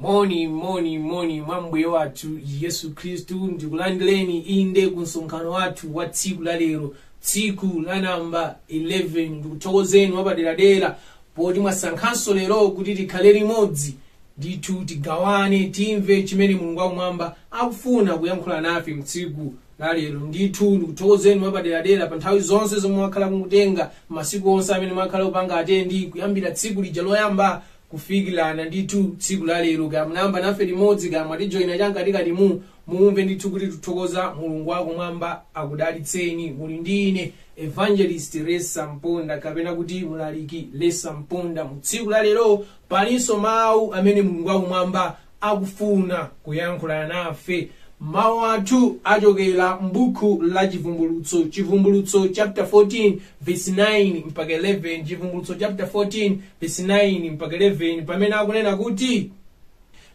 moni moni moni mwa mbuye wathu yesu khristu ndikulandireni inde ku msonkhano wathu wa tsiku la lero tsiku la namba 11 ndikuthokozeni mwapaderadera poti mwasankhanso lero kuti tikhale limodzi ndithu tigawane timve chimene mulungu wakumwamba akufuna kuyankhula nafe mtsiku lalero ndithu ndikuthokozeni mwapaderadera pa nthawi zonse zomwe mwakhala mukutenga masiku onse amene mwakhala mukupanga attend kuyambira tsiku lija loyamba kufikirana ndithu tsiku lalero kaya munayamba nafe limodzi kaya mwatijoyina cham'katikatimu mumve ndithu kuti tithokoza mulungu wakumwamba akudalitseni muli ndi ine evangelist lesa mponda kapena kuti mlaliki lesa mponda mu tsiku lalero palinso mawu amene mulungu wakumwamba akufuna kuyankhula nafe. Mawu athu achokera m'buku la Chivumbulutso, Chivumbulutso chapter 14 verse 9 mpaka 11, Chivumbulutso chapter 14 verse 9 mpaka 11, pamene akunena kuti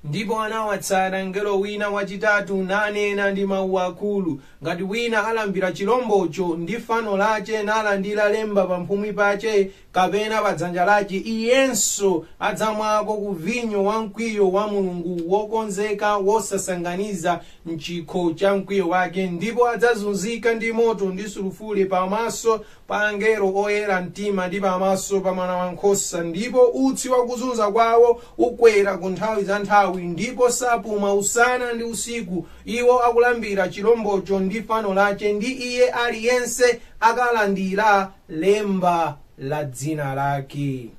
ndipo anawatsata mngelo wina wachitatu nanena ndi mawu akulu ngati wina alambira chilombocho ndi fano lache nalandira lemba pamphumi pache kapena pa dzanja lache iyenso adzamwako ku vinyo wa mkwiyo wa mulungu wokonzeka wosasanganiza mchikho cha mkwiyo wake ndipo adzazunzika ndi moto ndi sulufule pamaso pa angelo oyera mtima ndi pamaso pa mwana wa nkhosa ndipo utsi wakuzunza kwawo ukwera ku nthawi za nthawi ndipo sapuma usana ndi usiku iwo akulambira chilombocho ndi fano lache ndi iye aliyense akalandira lemba la dzina lake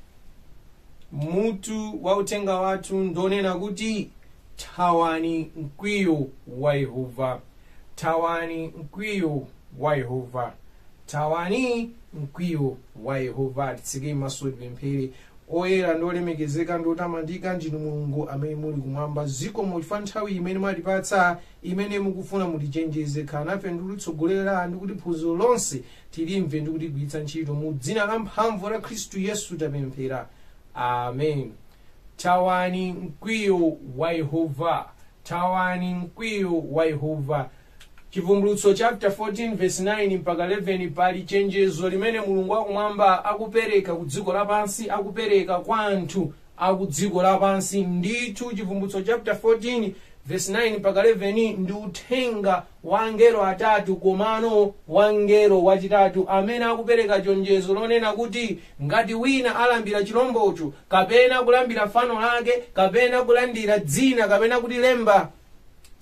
mutu wa uthenga wathu ndonena kuti thawani mkwiyo wa yehova thawani mkwiyo wa yehova thawani mkwiyo wa yehova titseke maso tipemphere oyera ndi olemekezeka ndi otamandika ndinu mulungu amene muli kumwamba zikomo chifukwa cha nthawi imene mwatipatsa imene mukufuna mutichenjeze khalani nafe ndi kutitsogolera ndi kuti phunziro lonse tilimve ndi kuligwiritsa ntchito mu dzina la mphamvu la khristu yesu tapemphera amen thawani mkwiyo wa yehova thawani mkwiyo wa yehova chivumbulutso chapter 14 verse 9 mpaka 11 pali chenjezo limene mulungu wakumwamba akupereka ku dziko lapansi akupereka kwa anthu aku dziko lapansi ndithu chivumbulutso chapter 14 verse 9 mpaka 11 ndi uthenga wa angelo atatu komano wangelo wachitatu amene akupereka chenjezo lonena kuti ngati wina alambira chilombocho kapena kulambira fano lake kapena kulandira dzina kapena kuti lemba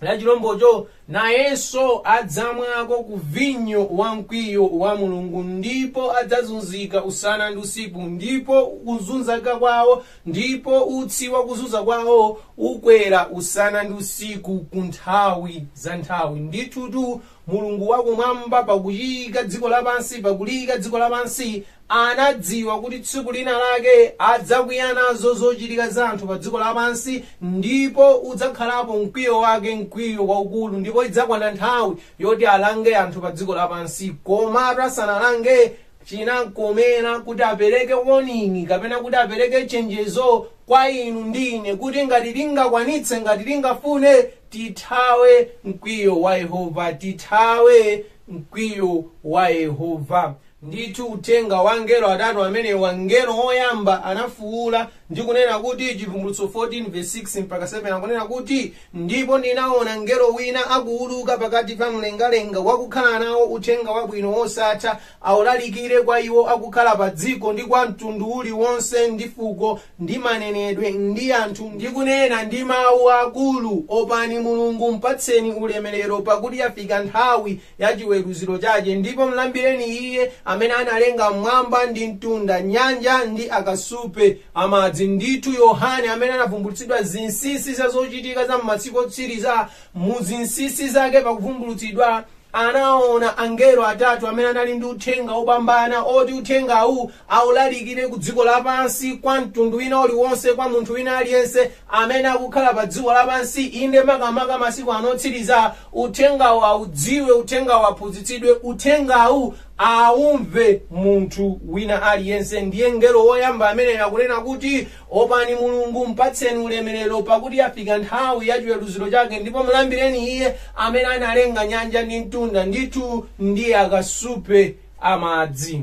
la chilombocho nayenso adzamwako ku vinyo wa mkwiyo wa mulungu ndipo adzazunzika usana ndi usiku ndipo kuzunzika kwawo ndipo utsi wa kuzunza kwawo ukwera usana ndi usiku ku nthawi za nthawi ndithutu mulungu wakumwamba pakuchiika dziko lapansi pakuliyika dziko lapansi anadziwa kuti tsiku lina lake adzakwiya nazo zochitika za anthu pa dziko lapansi ndipo udzakhalapo mkwiyo wake mkwiyo waukulu ndipo idzakwana nthawi yoti alange anthu pa dziko lapansi komatu asanalange chinamkomera kuti apereke warning kapena kuti apereke chenjezo kwa inu ndi ine kuti ngati tingakwanitse ngati tingafune tithawe mkwiyo wa yehova tithawe mkwiyo wa yehova ndithu uthenga wa angelo atatu amene wangelo woyamba anafuwula ndi kunena kuti chivumbulutso 14 verse 6 mpaka 7 akunena kuti ndipo ndinaona mngelo wina akuwuluka pakati pa mlengalenga wakukhala nawo uthenga wabwino wosatha awulalikire kwa iwo akukhala pa dziko ndi kwa mtundu uliwonse ndi fuko ndi manenedwe ndi anthu ndi kunena ndi mawu akulu opani mulungu mpatseni ulemerero pakuti yafika nthawi ya chiweruziro chake ndipo mlambireni iye amene analenga mmwamba ndi mtunda nyanja ndi akasupe amadzi ndithu yohane amene anavumbulutsidwa zinsinsi za zochitika za m'masiku otsiriza mu zinsinsi zake pakuvumbulutsidwa anaona angelo atatu amene anali ndi uthenga wopambana oti uthengawu aulalikire ku dziko lapansi kwa mtundu wina uliwonse kwa munthu wina aliyense amene akukhala pa dziko lapansi inde makamaka masiku ano otsiriza uthengawu audziwe uthengawu aphunzitsidwe uthengawu aumve munthu wina aliyense ndiye mngelo woyamba amene akunena kuti opani mulungu mpatseni ulemerero pakuti yafika nthawi ya chiweruziro chake ndipo mulambireni iye amene analenga nyanja ndi mtunda ndithu ndi akasupe amadzi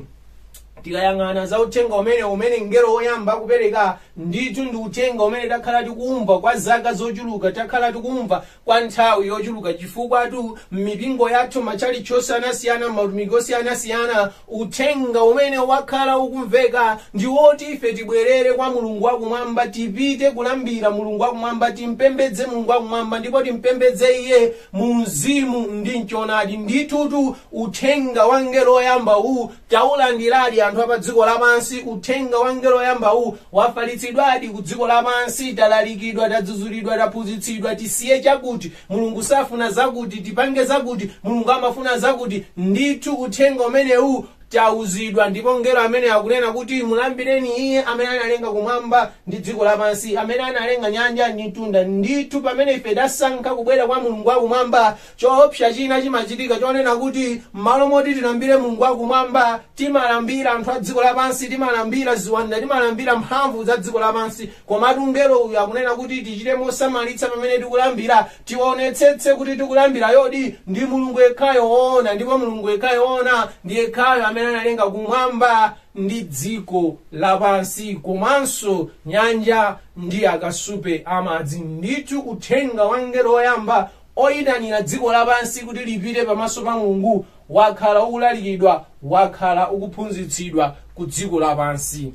tikayang'ana za uthenga umene umene mngelo woyamba akupereka ndithu ndi uthenga umene takhala tikumva kwa zaka zochuluka takhala tikumva kwa nthawi yochuluka chifukwatu m'mipingo yathu matchalitchi osiyanasiyana m'mautumiki osiyanasiyana uthenga umene wakhala ukumveka ndi woti ife tibwerere kwa mulungu wakumwamba tipite kulambira mulungu wakumwamba timpembedze mulungu wakumwamba ndipo timpembedze iye mu mzimu ndi mchonadi ndithutu uthenga wa mngelo woyamba uwu taulandiradi anthu apa dziko lapansi uthenga wa mngelo woyamba uwu wafalitsidwadi ku dziko lapansi talalikidwa tadzuzulidwa taphunzitsidwa tisiye chakuti mulungu safuna zakuti tipange zakuti mulungu amafuna zakuti ndithu uthenga umenewu tauzidwa ndipo mngelo amene akunena kuti mulambireni iye amene analenga kumwamba ndi dziko lapansi amene analenga nyanja ndi mtunda ndithu pamene ife tasankha kubwera kwa mulungu wakumwamba choopsa china chimachitika chonena kuti m'malo moti tilambire mulungu wakumwamba timalambira anthu a dziko lapansi timalambira ziwanda timalambira mphamvu za dziko lapansi komatu mngelo uyu akunena kuti tichite mosamalitsa pamene tikulambira Tionetsetse kuti tikulambirayodi ndi Mulungu yekhayo woona, ndipo Mulungu yekhayo woona ndi yekhayo amene analenga kumwamba ndi dziko lapansi komanso nyanja ndi akasupe amadzi. Ndithu uthenga wa mngelo woyamba oyitanira dziko lapansi kuti lipite pamaso pa Mulungu wakhala ukulalikidwa, wakhala ukuphunzitsidwa ku dziko lapansi.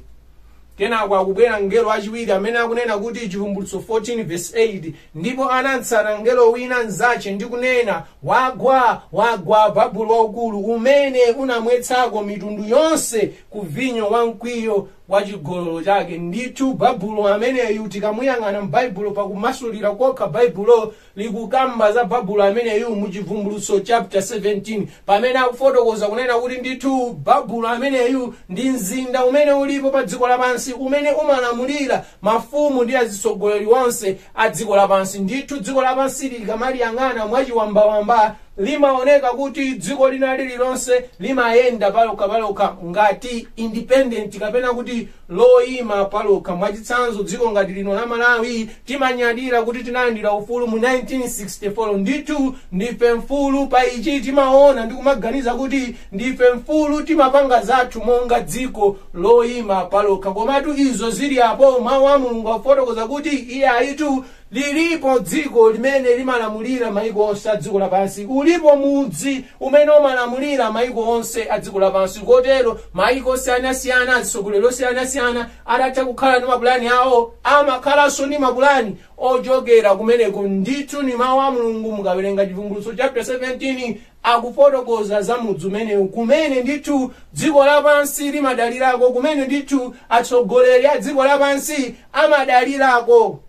kenako akubwera mngelo wachiwiri amene akunena kuti chivumbulutso 14 verse 8 ndipo anamtsata mngelo wina mzache ndi kunena wagwa wagwa babulo waukulu umene unamwetsako mitundu yonse ku vinyo wa mkwiyo wa chigololo chake ndithu babulo ameneyu tikamuyang'ana m'baibulo pakumasulira kokha baibulo likukamba za babulo ameneyu mu chivumbulutso chapter 17 pamene akufotokoza kunena kuti ndithu babulo ameneyu ndi mzinda umene ulipo pa dziko lapansi umene umalamulira mafumu ndi azitsogoleri onse a dziko lapansi ndithu dziko lapansi ukamaliyang'ana mwachiwambawamba limaoneka kuti dziko lina lililonse limayenda palokha palokha ngati independent kapena kuti loima palokha mwachitsanzo dziko ngati lino la malawi timanyadira kuti tinalandira ufulu mu 1964 ndithu ndife mfulu pa ichi timaona ndi kumaganiza kuti ndife mfulu timapanga zathu monga dziko loima palokha komatu izo zili apo mawu a mulungu afotokoza kuti iyayitu Lilipo dziko limene limalamulira maiko onse a dziko lapansi. Ulipo mudzi umene umalamulira maiko onse a dziko lapansi. Kotero maiko osiyanasiyana, azitsogoleri osiyanasiyana atha kukhala ndi mapulani awo, amakhalanso ndi mapulani ochokera kumeneko. Ndithu ndi Mau a Mulungu, mukawerenga Chivumbulutso chapter 17 akufotokoza za mudzi umenewu kumene ndithu dziko lapansi limadalirako kumene ndithu atsogoleri a dziko lapansi amadalirako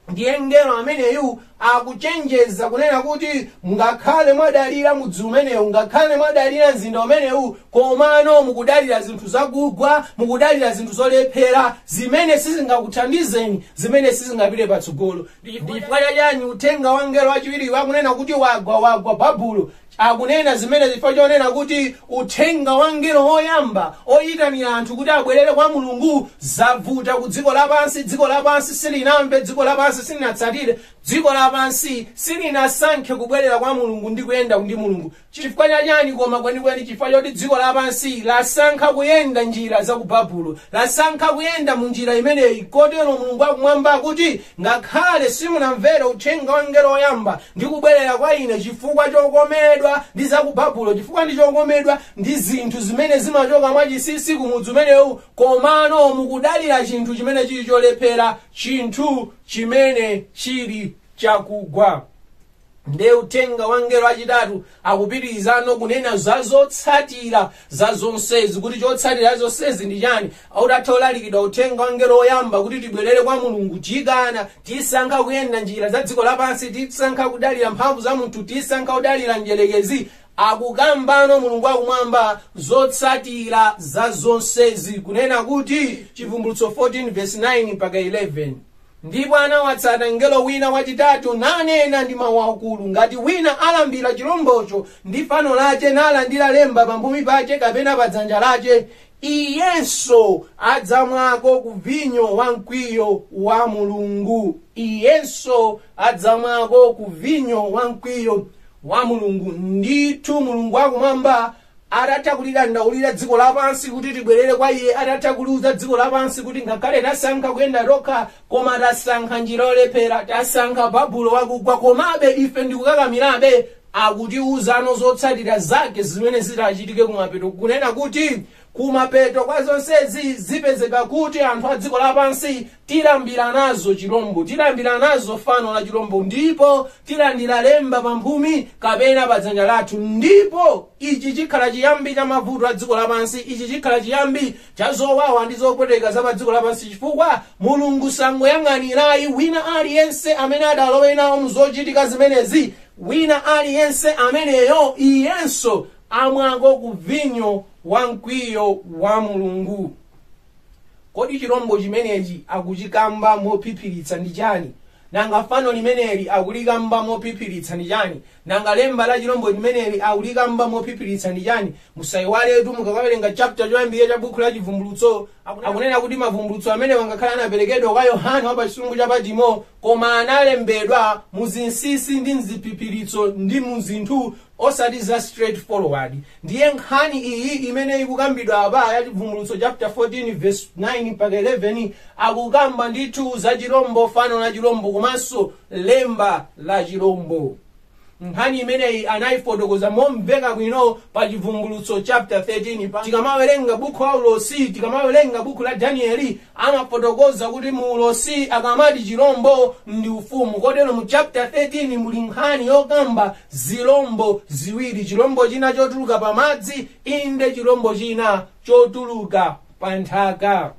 ndiye mngelo ameneyu akuchenjeza kunena kuti ngakhale mwadalira mudzi umenewu ngakhale mwadalira mzinda umenewu komano mukudalira zinthu zakugwa mukudalira zinthu zolephera zimene sizingakuthandizeni zimene sizingapite patsogolo ndifukwa chachani uthenga wa mngelo wachiwiri wakunena kuti wagwa wagwa babulo akunena zimenezi chifukwa chonena kuti uthenga wa mngelo woyamba oyitanira anthu kuti abwerere kwa mulungu zavuta ku dziko lapansi dziko lapansi silinamve dziko lapansi silinatsatire dziko lapansi silinasankhe kubwerera kwa mulungu ndi kuyenda ndi mulungu Chifukwa cha chani koma kwenikweni? Chifukwa choti dziko lapansi lasankha kuyenda njira za ku Babulo. Lasankha kuyenda mu njira imeneyi kotero Mulungu wa Kumwamba akuti, Ngakhale simunamvere uthenga wa mngelo woyamba ndi kubwerera kwa ine chifukwa chokomedwa ndi za ku Babulo, chifukwa ndi chokomedwa ndi zinthu zimene zimachoka mwa chinsinsi ku mudzi umenewu, komano mukudalira chinthu chimene chili cholephera, chinthu chimene chili chakugwa. nde uthenga wa mngelo achitatu akupitirizano kunena za zotsatira za zonsezi kuti chotsatira za zonsezi ndi chani utatha ulalikidwa uthenga wa mngelo woyamba kuti tibwerere kwa mulungu tikana tisankha kuyenda njira za dziko lapansi tisankha kudalira mphamvu za munthu tisankha kudalira mdyerekezi akukambano mulungu akumwamba zotsatira za zonsezi kunena kuti chivumbulutso 14 verse 9 mpaka 11 Ndipo anawatsata mngelo wina wachitatu, nanena ndi mawu akulu, ngati wina alambira chilombocho ndi fano lache, nalandira lemba pamphumi pache kapena pa dzanja lache, iyenso adzamwako ku vinyo wa mkwiyo wa Mulungu. Iyenso adzamwako ku vinyo wa mkwiyo wa Mulungu. Ndithu Mulungu wakumwamba atatha kulidandaulira dziko lapansi kuti tibwerere kwa iye atatha kuliuza dziko lapansi kuti ngakhale tasankha kuyenda tokha koma tasankha njira yolephera tasankha babulo wakugwa komabe ife ndikukakamirabe akutiuzano zotsatira zake zimene zitachitike kumapeto kunena kuti kumapeto kwa zonsezi zipezeka kuti anthu a dziko lapansi Tilambira nazo chirombo, tilambira nazo fano la chirombo, ndipo tilandira lemba pamphumi kapena pa dzanja lathu, ndipo ichi chikhala chiyambi cha mavuto a dziko lapansi, ichi chikhala chiyambi cha zowawa ndi zopweteka za pa dziko lapansi, chifukwa Mulungu sangoyang'anira ayi wina aliyense amene adalowe nawo mu zochitika zimenezi, wina aliyense ameneyo iyenso amwako ku vinyo wa mkwiyo wa Mulungu. kodi chirombo chimenechi akuchikamba mophiphiritsa ndi chani nanga fano limeneli akulikamba mophiphiritsa ndi chani nanga lemba la chirombo limeneli akulikamba mophiphiritsa ndi chani musayiwaletu mukakawerenga chapter choyambirira cha bukhu la chivumbulutso akunena kuti mavumbulutso amenewa ngakhale anaperekedwa kwa yohane wa pa chisumbu cha patimo koma analembedwa mu zinsinsi ndi mziphiphiritso ndi mu zinthu osati za straight forward Ndiye nkhani iyi imene ikukambidwa apa ya Chibvumbulutso chapter 14 verse 9 mpaka 11 akukamba ndithu za chilombo, fano la chilombo komanso lemba la chilombo. Nkhani imeneyi anayifotokoza momveka bwino pa Chibvumbulutso chapter 13. Pa tikamawerenga buku la ulosi, tikamawerenga buku la Danieli, amafotokoza kuti mu ulosi akamati chilombo ndi ufumu kotero mu chapter 13 muli nkhani yokamba zilombo ziwiri chilombo china chotuluka pa madzi inde chilombo china chotuluka pa nthaka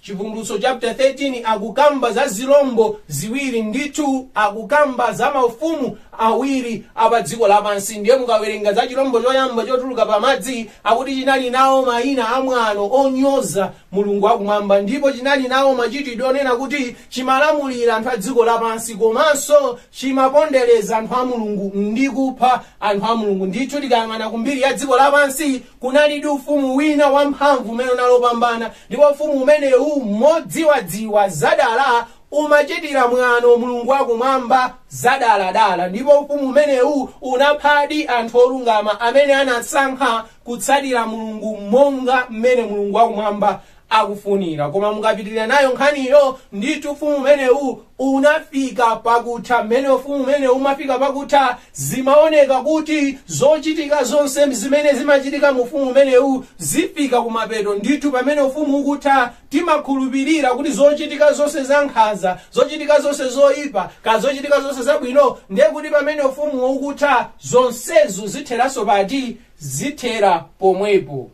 chivumbulutso chapter 13 akukamba za zilombo ziwiri ndithu akukamba za maufumu awiri apa dziko lapansi ndiye mukawerenga za chilombo choyamba chotuluka pa madzi akuti chinali nawo mayina amwano onyoza Mulungu wa kumwamba ndipo chinali nawo machitidwe onena kuti chimalamulira anthu a dziko lapansi komanso chimapondereza anthu a Mulungu ndi kupha anthu a Mulungu. Ndithu tikayang'ana ku mbiri ya dziko lapansi kunalidi ufumu wina wamphamvu umene unali wopambana ndipo ufumu umenewu modziwadziwa zadala umachitira mwano Mulungu wa kumwamba zadaladala ndipo ufumu umenewu unaphadi anthu olungama amene anasankha kutsatira mulungu monga mmene mulungu wakumwamba akufunira koma mukapitirira nayo nkhaniyo ndithu ufumu umenewu unafika pakutha mmene ufumu umenewu unafika pakutha zimaoneka kuti zochitika zonse zimene zimachitika mu ufumu umenewu zifika kumapeto ndithu pamene ufumu ukutha Timakhulupirira kuti zochitika zonse za nkhanza, zochitika zonse zoipa, kaya zochitika zonse zabwino, ndiye kuti pamene ufumuwo ukutha, zonsezo zitheranso pati? Zithera pomwepo.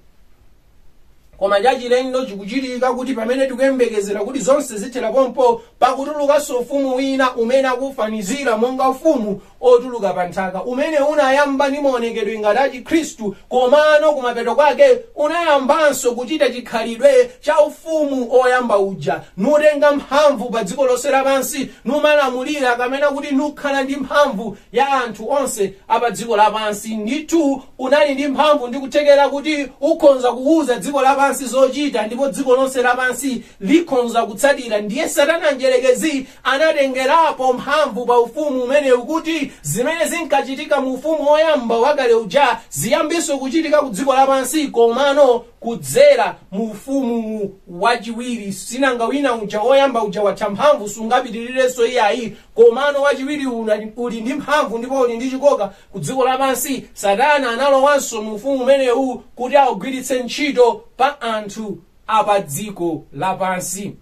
Koma chachilendo chikuchitika kuti pamene tikuyembekezera kuti zonse zithera pompo, pakutulukanso ufumu wina umene akufanizira monga ufumu otuluka pa nthaka, umene unayamba ndi maonekedwe ngati a Chikhristu komano kumapeto kwake unayambanso kuchita chikhalidwe cha ufumu oyamba uja, nutenga mphamvu pa dziko lonse lapansi, numalamulira kapena kuti nukhala ndi mphamvu ya anthu onse a pa dziko lapansi. Ndithu unali ndi mphamvu ndi kuthekera kuti ukhonza kuwuza dziko lapansi zochita ndipo dziko lonse lapansi likhonza kutsatira. Ndiye Satana Mdyerekezi anatengerapo mphamvu pa ufumu umenewu kuti zimene zinkachitika mu ufumu woyamba wakale uja ziyambinso kuchitika ku dziko lapansi komano kudzera mu ufumu wachiwiri sinanga wina uja woyamba uja watha mphamvu sungapitirirenso iyayi komano wachiwiri uli ndi mphamvu ndipo uli ndi chikoka ku dziko lapansi satana analowanso mu ufumu umenewu kuti augwiritse ntchito pa anthu apa dziko lapansi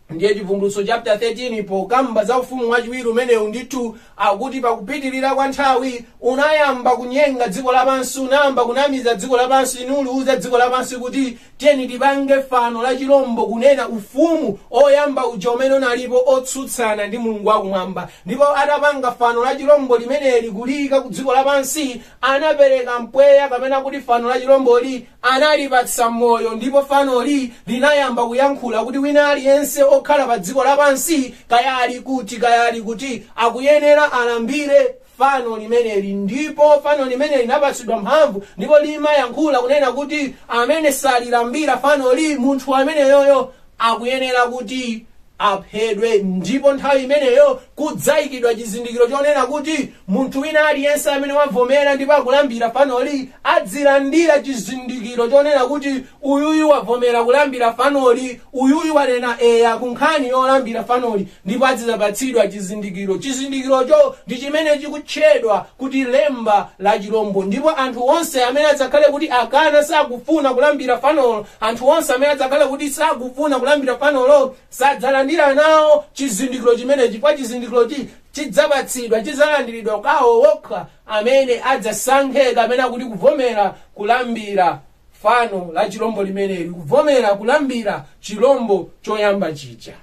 ndiye chivumbulutso chapter 13 pokamba za ufumu wachiwiri umenewu ndithu akuti pakupitirira kwa nthawi unayamba kunyenga dziko lapansi unayamba kunamiza dziko lapansi nuliuza dziko lapansi kuti tiyeni tipange fano la chilombo kunena ufumu oyamba uja umene unali otsutsana ndi mulungu wakumwamba ndipo atapanga fano la chilombo limeneli kuliyika ku dziko lapansi anapereka mpweya kapena kuti fano la chilomboli analipatsa moyo ndipo fanoli linayamba kuyankhula kuti wina aliyense okhala pa dziko lapansi kaya ali kuti kaya ali kuti akuyenera alambire fano limeneli ndipo fano limeneli linapatsidwa mphamvu ndipo limayankhula kunena kuti amene salilambira fanoli munthu ameneyoyo akuyenera kuti aphedwe ndipo nthawi imeneyo kudzayikidwa chizindikiro chonena kuti munthu wina aliyense amene wavomera ndipo akulambira fanoli adzilandira chizindikiro chonena kuti uyuyu wavomera kulambira fanoli uyuyu wanena eya ku nkhani yolambira fanoli ndipo adzidzapatsidwa chizindikiro chizindikirocho ndi chimene chikutchedwa kuti lemba la chilombo ndipo anthu onse amene adzakhale kuti akana sakufuna kulambira fanolo Anthu onse amene adzakhale kuti sakufuna kulambira fanolo sadzalandira nawo chizindikiro chimenechi, chifukwa chizindikirochi chidzapatsidwa, chidzalandiridwa kwa awo okha amene adzasankhe kapena kuti kuvomera kulambira fano la chilombo limeneli, kuvomera kulambira chilombo choyamba chija.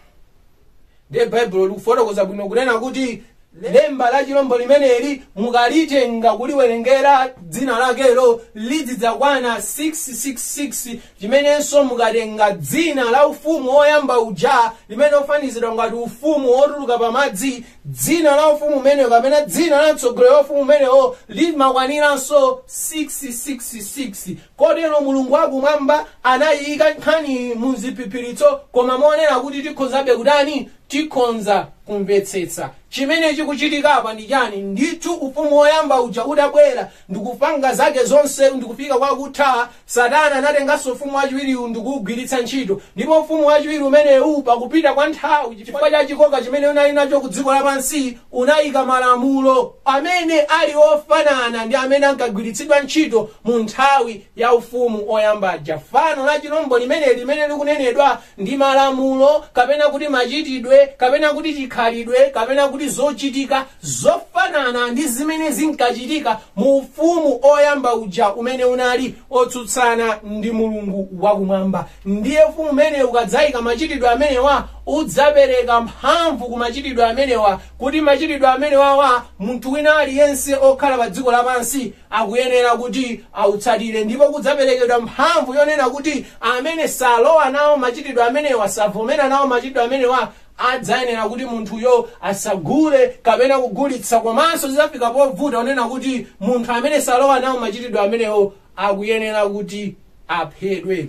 ndiye baibulo likufotokoza bwino kunena kuti lemba la chilombo limeneli mukalitenga kuliwerengera dzina lakelo lidzidzakwana 666 chimenenso mukatenga dzina la ufumu woyamba uja umene ufanizidwa ngati ufumu wotuluka pamadzi dzina la ufumu umenewo kapena dzina la mtsogoleri wa ufumu umenewo limakwaniranso 666 Kotero Mulungu wa kumwamba anayiyika nkhaniyi mu ziphiphiritso koma monena kuti tikhonzabe kutani? Tikhonza kumvetsetsa. Chimene chikuchitika apa ndi chani? Ndithu ufumu woyamba uja udabwera ndikupanga zake zonse ndikufika kwa kutha, Satana anatenganso ufumu wachiwiriwu ndikuwugwiritsa ntchito. Ndipo ufumu wachiwiri umenewu pakupita kwa nthawi chifukwa cha chikoka chimene unali nacho ku dziko lapansi, unaika malamulo amene ali ofanana ndi amene ankagwiritsidwa ntchito mu nthawi ya ufumu oyamba uja fano la chilombo limene limene likunenedwa ndi malamulo kapena kuti machitidwe kapena kuti chikhalidwe kapena kuti zochitika zofanana ndi zimene zinkachitika mu ufumu oyamba uja umene unali otsutsana ndi mulungu wakumwamba Ndiye ufumu umenewu ukadzaika machitidwe amenewa, udzapereka mphamvu ku machitidwe amenewa, kuti machitidwe amenewawa munthu wina aliyense okhala pa dziko lapansi akuyenera kuti awatsatire. Ndipo kudzaperekedwa mphamvu yonena kuti amene salowa nawo machitidwe amenewa, savomera nawo machitidwe amenewa, adzayenera kuti munthuyo asagule kapena kugulitsa komanso zidzafika povuta ponena kuti munthu amene salowa nawo machitidwe amenewo akuyenera kuti aphedwe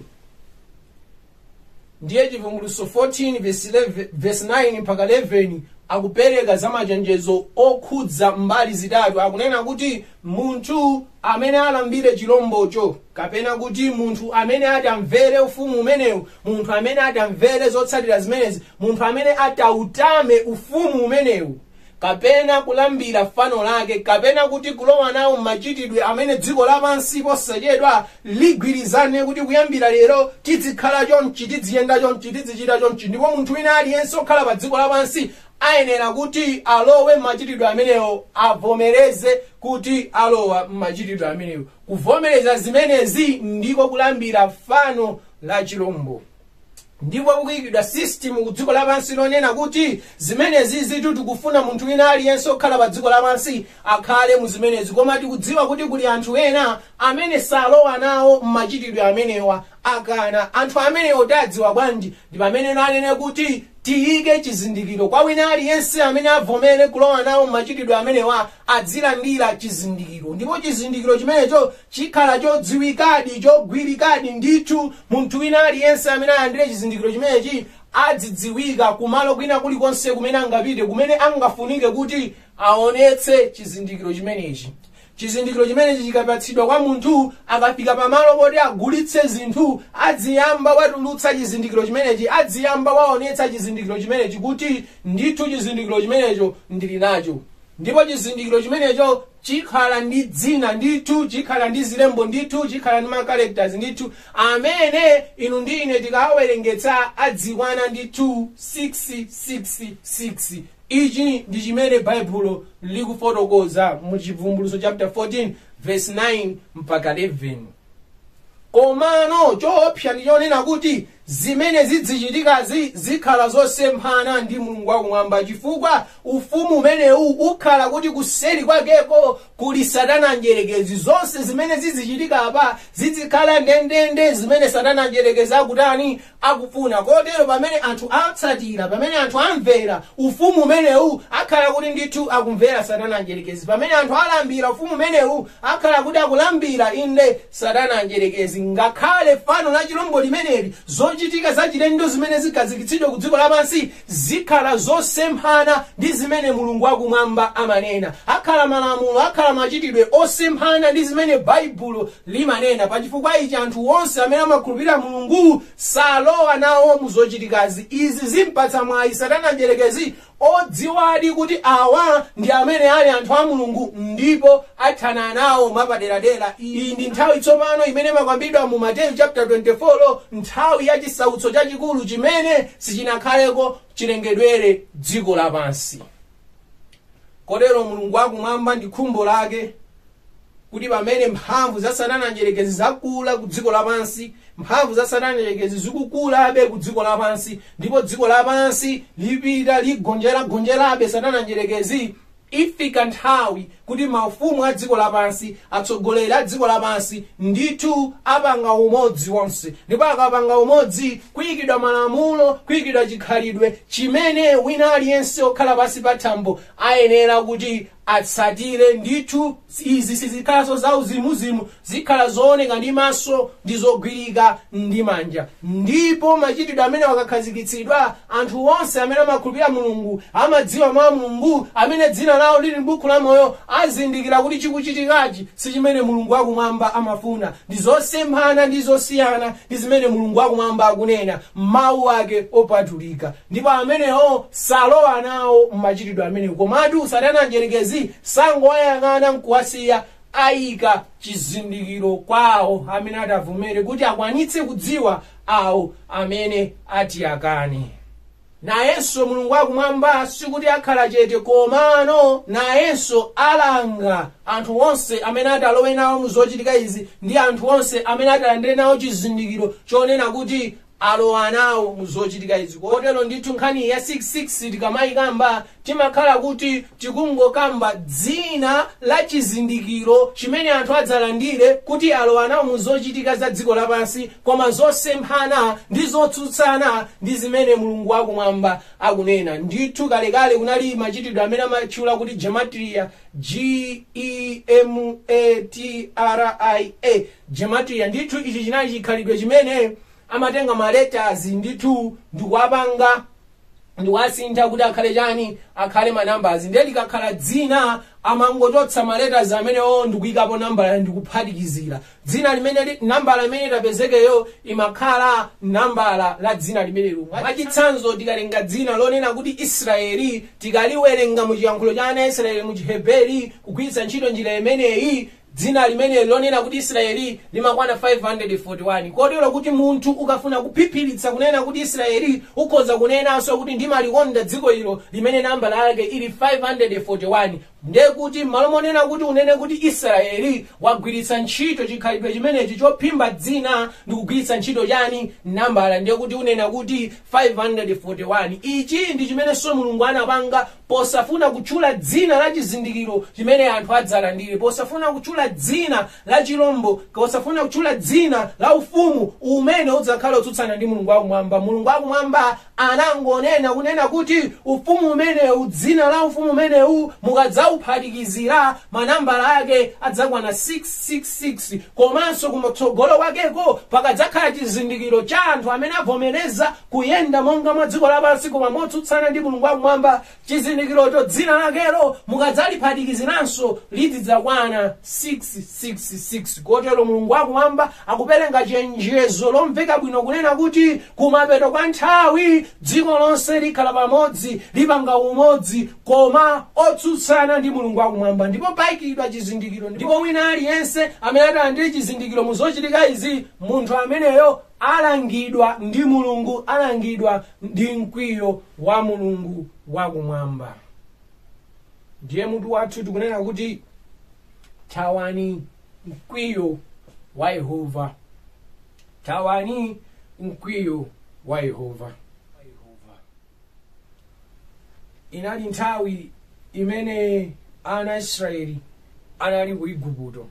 ndiye chivumbulutso 14 verse 11 verse 9 mpaka 11 akupereka za machenjezo okhudza mbali zitatu akunena kuti munthu amene alambire chilombocho kapena kuti munthu amene atamvere ufumu umenewu munthu amene atamvere zotsatira zimenezi munthu amene atautame ufumu umenewu kapena kulambira fano lake kapena kuti kulowa nawo mmachitidwe amene dziko lapansi posachedwa ligwirizane kuti kuyambira lero tidzikhala chonchi tidziyenda chonchi tidzichita chonchi ndipo munthu wina aliyense okhala pa dziko lapansi ayenera kuti alowe mmachitidwe amenewo avomereze kuti alowa mmachitidwe amenewo kuvomereza zimenezi ndiko kulambira fano la chilombo ndipo kukuyikidwa system ku dziko lapansi lonena kuti zimenezizitu tikufuna munthu wina aliyense okhala pa dziko lapansi akhale mu zimenezi koma tikudziwa kuti kuli anthu ena amene salowa nawo mmachitidwe amenewa akana anthu amenewo tiwadziwa bwanji ndi pamene anene kuti tiyike chizindikiro kwa wina aliyense amene avomere kulowa nawo mmachitidwe amenewa adzilandira chizindikiro ndipo chizindikiro chimenecho chikhala chodziwikadi chogwirikadi ndithu munthu wina aliyense amene alandire chizindikiro chimenechi adzidziwika kumalo kwina kulikonse kumene angapite kumene angafunike kuti aonetse chizindikiro chimenechi chizindikiro chimenechi chikapatsidwa kwa munthu akafika pamalo poti agulitse zinthu adziyamba watulutsa chizindikiro chimenechi adziyamba waonetsa chizindikiro chimenechi kuti ndithu chizindikiro chimenecho ndili nacho ndipo chizindikiro chimenecho chikhala ndi dzina ndithu chikhala ndi zilembo ndithu chikhala ndi macharacters ndithu amene inu ndi ine tikawawerengetsa adzikwana ndithu 666 ichi ndi chimene baibulo likufotokoza mu chivumbulutso chapter 14 verse 9 mpaka 11 komano choopsa ndi chonena kuti Zimene zidzichitikazi zikhala zosemphana ndi Mulungu wakumwamba chifukwa ufumu umenewu ukhala kuti kuseri kwakeko kuli Satana Mdyerekezi. Zonse zimene zidzichitika apa zidzikhala ndendende zimene Satana Mdyerekezi akutani? Akufuna. Kotero pamene anthu atsatira, pamene anthu amvera ufumu umenewu, akhala kuti ndithu akumvera Satana Mdyerekezi. Pamene anthu alambira ufumu umenewu, Akhala kuti akulambira, inde, Satana Mdyerekezi, ngakhale fano la chirombo limeneli, zochitika zachilendo zimene zikhazikitsidwa ku dziko lapansi zikhala zosemphana ndi zimene Mulungu wa Kumwamba amanena. Akhala malamulo, akhala machitidwe osemphana ndi zimene Baibulo limanena. Pachifukwa ichi, anthu onse amene amakhulupirira Mulungu salowa nawo mu zochitikazi. Izi zimpatsa mwayi Satana Mdyerekezi odziwadi kuti awa ndi amene ali anthu a Mulungu ndipo athana nawo mwapaderadera. Iyi ndi nthawi tsopano imene imakwambidwa mu Mateyu chapter 24, nthawi ya chisautso chachikulu chimene sichinakhaleko chilengedwere dziko lapansi. Kotero Mulungu wakumwamba ndi khumbo lake kuti pamene mphamvu za satana mdyerekezi zakula ku dziko lapansi mphamvu za satana mdyerekezi zikukulabe ku dziko lapansi ndipo dziko lapansi lipita ligonjeragonjerabe satana mdyerekezi ifika nthawi kuti mafumu a dziko lapansi atsogoleri a dziko lapansi ndithu apanga umodzi onse ndipo akapanga umodzi kuyikidwa malamulo kuyikidwa chikhalidwe chimene wina aliyense okhala pansi pa thambo ayenera kuti atsatire. Ndithu izi sizikhalanso za uzimuzimu, zikhala zooneka ndi maso ndi zogwirika ndi manja. Ndipo machitidwe amenewa akakhazikitsidwa, anthu onse amene amakhulupirira Mulungu, amadziwa Mawu a Mulungu, amene dzina lawo lili m'buku la moyo, azindikira kuti chikuchitikachi si chimene Mulungu wakumwamba amafuna. Ndi zosemphana ndi zosiyana ndi zimene Mulungu wakumwamba akunena m'Mawu ake opatulika. ndipo amenewo salowa nawo mmachitidwe amenewo komatu satana mdyerekezi sangowayang'ana nkuwasiya ayika chizindikiro kwawo amene atavomere kuti akwanitse kudziwa awo amene ati akane nayenso mulungu wakumwamba sikuti akhala chete komano nayenso alanga anthu onse amene atalowe nawo mu zochitika izi ndi anthu onse amene atalandire nawo chizindikiro chonena kuti alowa nawo mu zochitika izi. Kotero ndithu nkhani ya 666 tikamayikamba timakhala kuti tikungokamba dzina la chizindikiro chimene anthu adzalandire kuti alowa nawo mu zochitika za dziko lapansi koma zosemphana ndi zotsutsana ndi zimene mulungu wakumwamba akunena ndithu kalekale kunali machitidwe amene amatchula kuti gematria g e m a t r i a Gematria, ndithu ichi chinali chikhalidwe chimene amatenga ma letters ndithu ndikuwapanga ndikuwasintha kuti akhale chani akhale ma numbers ndiye likakhala dzina amangochotsa ma letters amenewo ndikuyikapo nambala ndikuphatikizira dzina limene li- nambala imene itapezekeyo imakhala nambala la dzina limenelo mwachitsanzo tikatenga dzina lonena kuti israeli tikaliwerenga mu chiyankhulo cha ana israeli mu chiheberi kugwiritsa ntchito njira imeneyi dzina limeneli lonena kuti israeli limakwana 541 kotero kuti munthu ukafuna kuphiphiritsa kunena kuti israeli ukhoza kunenanso kuti ndimalikonda dziko ilo limene nambala yake ili 541 ndiye kuti m'malo monena kuti unene kuti israeli wagwiritsa ntchito chikhalidwe chimenechi chophimba dzina ndi kugwiritsa ntchito chani nambala ndiye kuti unena kuti 541 ichi ndi chimenenso mulungu anapanga posafuna kutchula dzina la chizindikiro chimene anthu adzalandire posafuna kutchula dzina la chilombo posafuna kutchula dzina la ufumu umene udzakhala utsutsana ndi mulungu wakumwamba mulungu wakumwamba anangonena kunena kuti ufumu umenewu dzina la ufumu umenewu mukadzawuphatikizira manambala ake adzakwana 666 komanso kumatsogolo kwakeko pakadzakhala chizindikiro cha anthu amene avomereza kuyenda monga mwa dziko lapansi koma motsutsana ndi mulungu wakumwamba chizindikirocho dzina lakelo mukadzaliphatikiziranso lizidzakwana 666 kotero mulungu wakumwamba akupereka chenjezo lomveka bwino kunena kuti kumapeto kwa nthawi dziko lonse likhala pamodzi lipanga umodzi koma otsutsana ndi mulungu wakumwamba ndipo paikidwa chizindikiro ndipo wina aliyense amene atalandire chizindikiro muzochitika izi munthu ameneyo alangidwa ndi mulungu alangidwa ndi mkwiyo wa mulungu wakumwamba ndiye mutu wathu tukunena kuti thawani mkwiyo wa yehova thawani mkwiyo wa yehova inali nthawi imene ana a israeli anali ku iguputo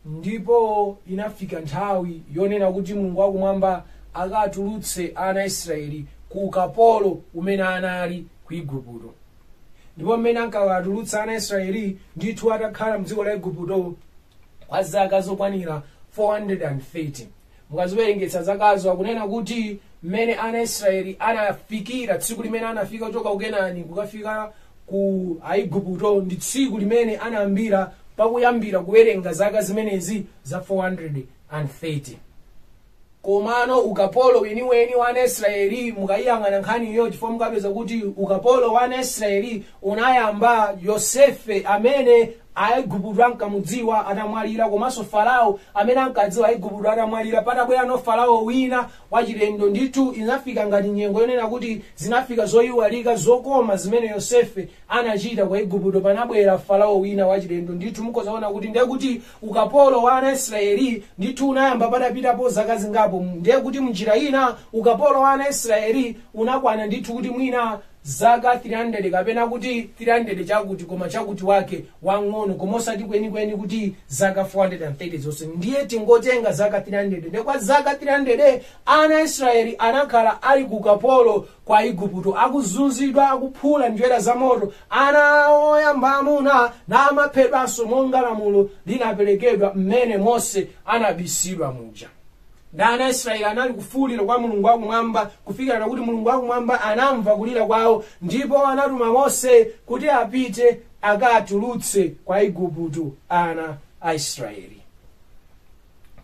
ndipo inafika nthawi yonena kuti mulungu wakumwamba akatulutse ana a israeli ku ukapolo umene anali ku iguputo ndipo mmene ankawatulutsa ana a israeli ndithu atakhala mdziko la iguputo kwa zaka zokwanira 430 mukaziwerengetsa zakazo akunena kuti mmene ana israeli anafikira tsiku limene anafika kuchoka ku kenani kukafika ku aiguputo ndi tsiku limene anayambira pakuyambira kuwerenga zaka zimenezi za 430 komano ukapolo weniweni wa ana israeli mukayiyang'ana nkhaniyo chifukwa mukapeza kuti ukapolo wa ana israeli unayamba yosefe amene aiguputo ankamudziwa atamwalira komanso farao amene ankadziwa aiguputo atamwalira panabwerano farao wina wachilendo ndithu inafika ngati nyengo yonena kuti zinafika zoiwalika zokoma zimene yosefe anachita kwa aiguputo panabwera farao wina wachilendo ndithu mudzaona kuti ndiye kuti ukapolo wa ana israeli ndithu unayamba patapitapo zaka zingapo ndiye kuti mnjira ina ukapolo wa ana israeli unakwana ndithu kuti mwina zaka 300 kapena kuti 300 chakuti koma chakuti wake wang'ono koma osati kwenikweni kuti zaka 430 zonse ndiye tingotenga zaka 300 nde kwa zaka 300 ana a israeli anakhala ali ku ukapolo kwa igupto akuzunzidwa akuphula njerwa za moto ana awo oyamba amuna namaphedwanso monga lamulo linaperekedwa mmene mose anabisidwa muja na ana aisraeli anali kufuulira kwa mulungu wakumwamba kufikirana kuti mulungu wakumwamba anamva kulira kwawo ndipo anatuma mose kuti apite akatulutse kwa igupto ana a israeli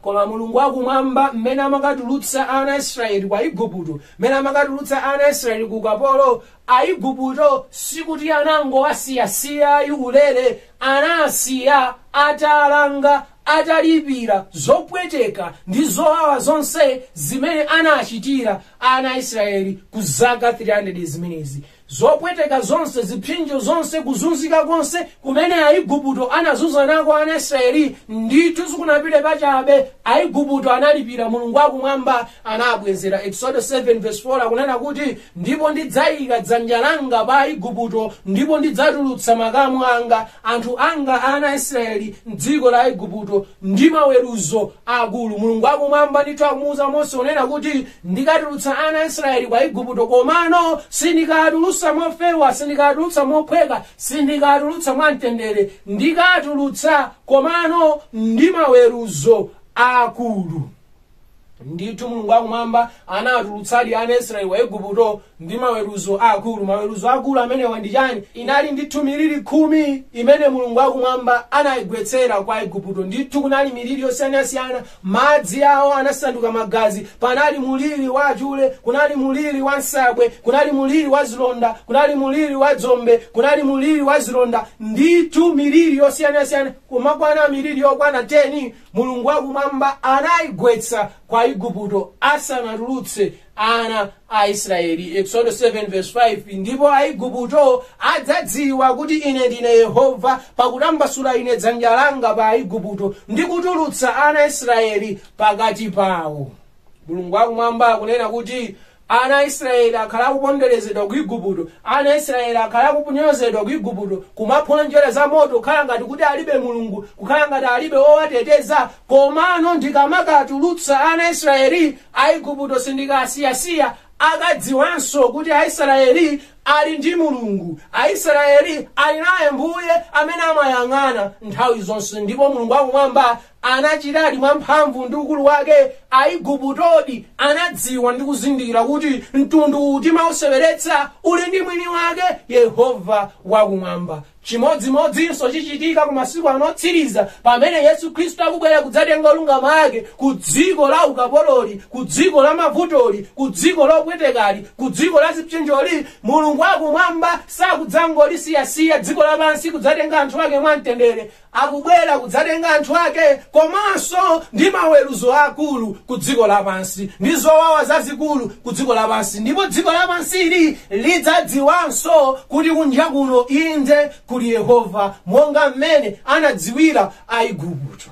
koma mulungu wakumwamba mmene amakatulutsa ana aisraeli kwa igupto mmene amakatulutsa ana aisraeli ku ukapolo aigupto sikuti anangowasiyasiya ayulere anasiya atalanga atalipira zopweteka ndi zowawa zonse zimene anachitira ana a israeli kwa zaka 300 zimenezi zopweteka zonse zipsinjo zonse kuzunzika konse kumene aiguputo anazunza nako ana a israeli ndithu sizinapite pachabe aiguputo analipira mulungu akumwamba anabwezera exodo 7 verse 4 akunena kuti ndipo ndidzayika dzanja langa pa aiguputo ndipo ndidzatulutsa makamu anga anthu anga ana a israeli mdziko la igupto ndi maweruzo akulu mulungu akumwamba ndithu akumuuza mose kunena kuti ndikatulutsa ana a israeli kwa igupto komano sindikatulutsa mofewa sindikatulutsa mophweka sindikatulutsa mwamtendere ndikatulutsa komano ndi maweruzo akulu ndithu mulungu akumwamba anatulutsadi ana aisraeli kwa igupto ndi maweruzo akulu maweruzo akulu amenewa ndi chani inali ndithu miliri khumi imene mulungu akumwamba anayigwetsera kwa igupto ndithu kunali miliri yosiyanasiyana madzi awo anasanduka magazi kunali muliri wa achule kunali muliri wa nsabwe kunali muliri wa zilonda kunali muliri wa dzombe kunali muliri wa zilonda ndithu miliri yosiyanasiyana kunakwana miliri yokwana 10 mulungu wakumwamba anayigwetsa kwa aigupto asanatulutse ana a israeli exodo 7 verse 5 ndipo aigupto adzadziwa kuti ine ndine yehova pakutambasula ine dzanja langa pa aigupto ndi kutulutsa ana a israeli pakati pawo mulungu wakumwamba akunena kuti ana a israeli akhala akuponderezedwa ku igupto ana a israeli akhala akunyozedwa ku igupto kumaphula njerwa za moto kukhala ngati kuti alibe mulungu kukhala ngati alibe owateteza komano ndikamakatulutsa ana a israeli a igupto sindikawasiyasiya akadziwanso kuti aisraeli ali ndi mulungu aisraeli ali naye mbuye amene amayang'ana nthawi zonse ndipo mulungu wakumwamba anachitadi mwa mphamvu ndi ukulu wake aiguputodi anadziwa ndi kuzindikira kuti mtundu timauseweretsa uli ndi mwini wake yehova wakumwamba chimodzimodzinso chichitika ku masiku anotsiriza pamene yesu khristu akubwera kudzatenga olungama ake ku dziko la ukapololi ku dziko la mavutoli ku dziko lopwetekali ku dziko la zipsinjoli mulungu akumwamba sakudzangolisiya siya dziko lapansi kudzatenga anthu ake mwamtendere akubwera kudzatenga anthu ake komanso ndi maweruzo akulu ku dziko lapansi ndi zowawa zazikulu ku dziko lapansi ndipo dziko lapansili lidzadziwanso kuti kunja kuno inde kuli yehova monga mmene anadziwira aigupto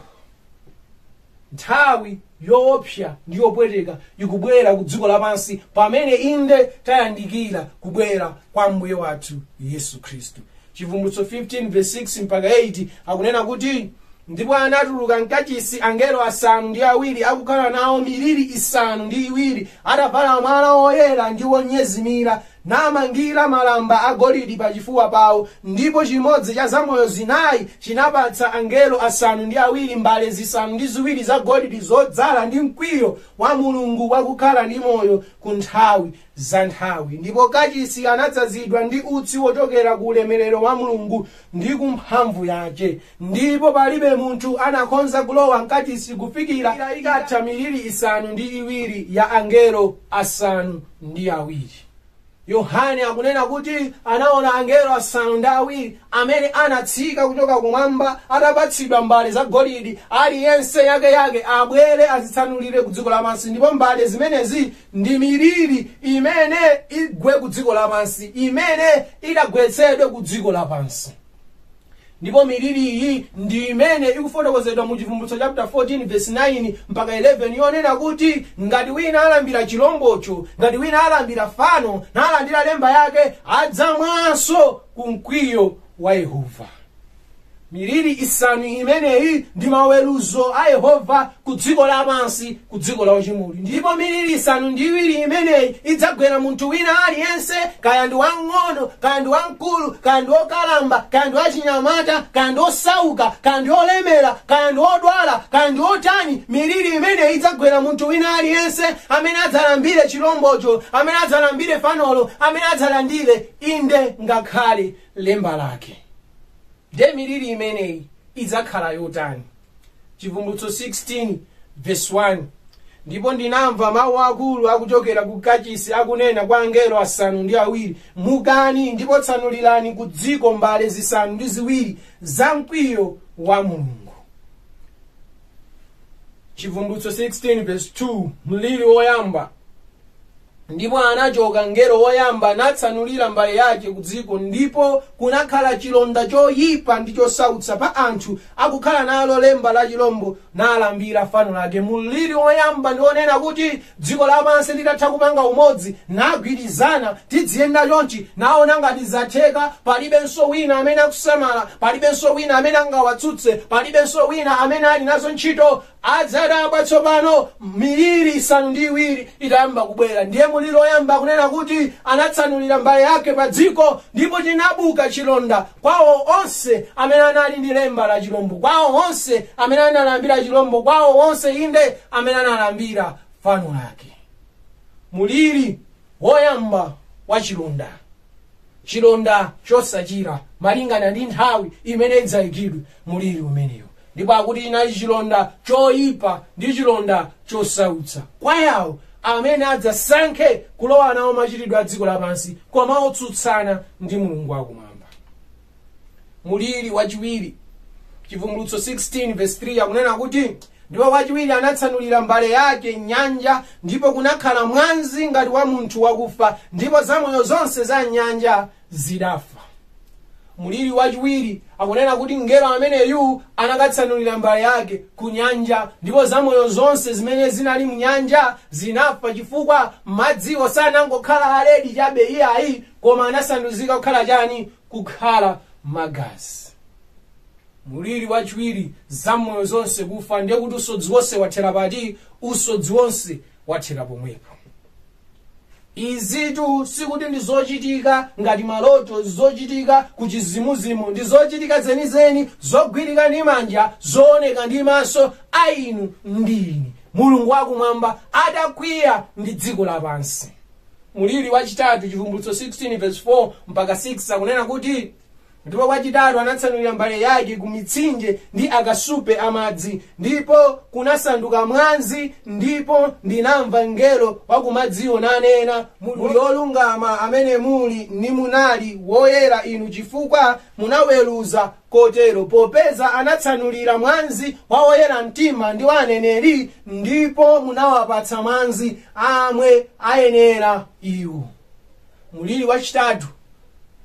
Nthawi yoopsa ndi yopweteka ikubwera ku dziko lapansi pamene inde tayandikira kubwera kwa Ambuye wathu Yesu Khristu. Chivumbulutso 15 verse 6 mpaka 8 akunena kuti ndipo anatuluka mkachisi angelo asanu ndi awiri akukhala nawo miliri isanu ndi iwiri atavala mwala woyera ndi wonyezimira namangira malamba agolidi pachifuwa pawo, ndipo chimodzi cha zamoyo zinayi chinapatsa angelo asanu ndi awiri mbale zisanu ndi ziwiri zagolidi zodzala ndi mkwiyo wa Mulungu wakukhala ndi moyo ku nthawi za nthawi. Ndipo kachisi anadzazidwa ndi utsi wochokera ku ulemerero wa Mulungu ndi ku mphamvu yace. ndipo palibe munthu anakhonza kulowa mkachisi kufikira ili ikatha miliri isanu ndi iwiri ya angelo asanu ndi awiri yohane akunena kuti anaona angelo asanu ndi awiri amene anatsika kuchoka kumwamba atapatsidwa mbale za golidi aliyense yake yake abwere adzitsanulire ku dziko lapansi ndipo mbale zimenezi ndi miliri imene igwe ku dziko lapansi imene idzagwetsedwe ku dziko lapansi ndipo miliri iyi ndi imene ikufotokozedwa mu chivumbulutso chapter 14 verse 9 mpaka 11 yonena kuti ngati wina alambira chilombocho ngati wina alambira fano nalandira lemba yake adzamwanso ku mkwiyo wa yehova miliri isanu imeneyi ndi maweruzo a yehova ku dziko lapansi ku dziko la uchimoli ndipo miliri isanu ndi iwiri imeneyi idzagwera munthu wina aliyense kaya ndi wamng'ono kaya ndi wamkulu kaya ndi wokalamba kaya ndi wachinyamata kaya ndi wosauka kaya ndi wolemera kaya ndi wodwala kaya ndi wotani miliri imeneyi idzagwera munthu wina aliyense amene adzalambire chilombocho amene adzalambire fanolo amene adzalandire inde ngakhale lemba lake Nde miliri imeneyi idzakhala yotani? Chivumbulutso 16 verse 1 ndipo ndinamva mawu akulu akuchokera ku kachisi akunena kwa angelo asanu ndi awiri mukani ndipo tsanulirani ku dziko mbale zisanu ndi ziwiri za mkwiyo wa mulungu chivumbulutso 16 verse 2 mliri woyamba ndipo anachoka mngelo woyamba natsanulira mbale yake ku dziko ndipo kunakhala chilonda choyipa ndi chosautsa pa anthu akukhala nalo lemba la chilombo nalambira fano lake mliri woyamba ndi onena kuti Dziko lapansi litatha kupanga umodzi, nagwirizana, tidziyenda chonchi, naona ngati zatheka, palibenso wina amene akusamala, palibenso wina amene angawatsutse, palibenso wina amene ali nazo ntchito, adzadabwa tsopano miliri isanu ndi iwiri itayamba kubwera. Ndiye muliri woyamba akunena kuti anatsanulira mbale yake pa dziko, ndipo chinabuka chilonda kwa iwo onse amene anali ndi lemba la chilombo, kwa iwo onse amene analambira chilombo, kwa iwo onse inde amene analambira fano lake. Mliri woyamba wa chilonda, chilonda chosachira malingana ndi nthawi imene idzaikidwe mliri umenewu, ndipo akuti chinali chilonda choyipa ndi chilonda chosautsa kwa iwo amene adzasankhe kulowa nawo machitidwe a dziko lapansi koma otsutsana ndi mulungu wakumwamba. muliri wachiwiri chivumbulutso 16 verse 3 akunena kuti ndipo wachiwiri anatsanulira mbale yake m'nyanja ndipo kunakhala mwanzi ngati wa munthu wakufa ndipo zamoyo zonse za m'nyanja zidafa muliri wachiwiri akunena kuti mngelo ameneyu anakatsanulira mbale yake ku nyanja ndipo zamoyo zonse zimene zinali mu nyanja zinafa chifukwa madziwo sanangokhala aledi chabe iyayi koma anasanduzika kukhala chani kukhala magazi muliri wachiwiri zamoyo zonse kufa ndiye kuti usodzi wonse wathera pati usodzi wonse wathera pomwepo izitu sikuti ndi zochitika ngati maloto zochitika ku chizimuzimu ndi zochitika zenizeni zogwirika ndi manja zooneka ndi maso a inu ndi ine mulungu wakumwamba adakwiya ndi dziko lapansi mliri wachitatu chivumbulutso 16 verse 4 mpaka 6 akunena kuti ndipo wachitatu anatsanulira mbale yake ku mitsinje ndi akasupe amadzi ndipo kunasanduka mwanzi ndipo ndinamva mngelo wakumadziwo nanena muli olungama amene muli ndi munali woyera inu chifukwa munaweruza Kotero, popeza anatsanulira mwazi wa oyera mtima ndi wa aneneri, ndipo munawapatsa mwazi amwe ayenera iwo. Muliri wachitatu,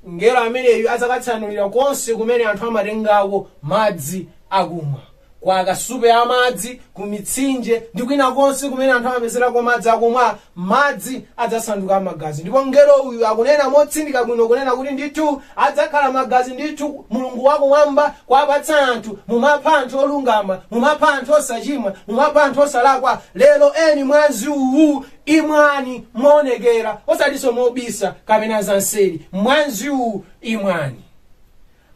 mngelo ameneyu adzakatsanulira konse kumene anthu amatengako madzi akumwa. kwa akasupe a madzi ku mitsinje ndi kwina konse kumene anthu amapezerako madzi akumwa madzi adzasanduka magazi ndipo mngelo uyu akunena motsindika bwino kunena kuti ndithu adzakhala magazi ndithu mulungu wakumwamba kuwapatsa anthu mumapha anthu olungama mumapha anthu osachimwa mumapha anthu osalakwa lero eni mwazi uwu imwani moonekera osatinso mobisa kapena zamseri mwazi uwu imwani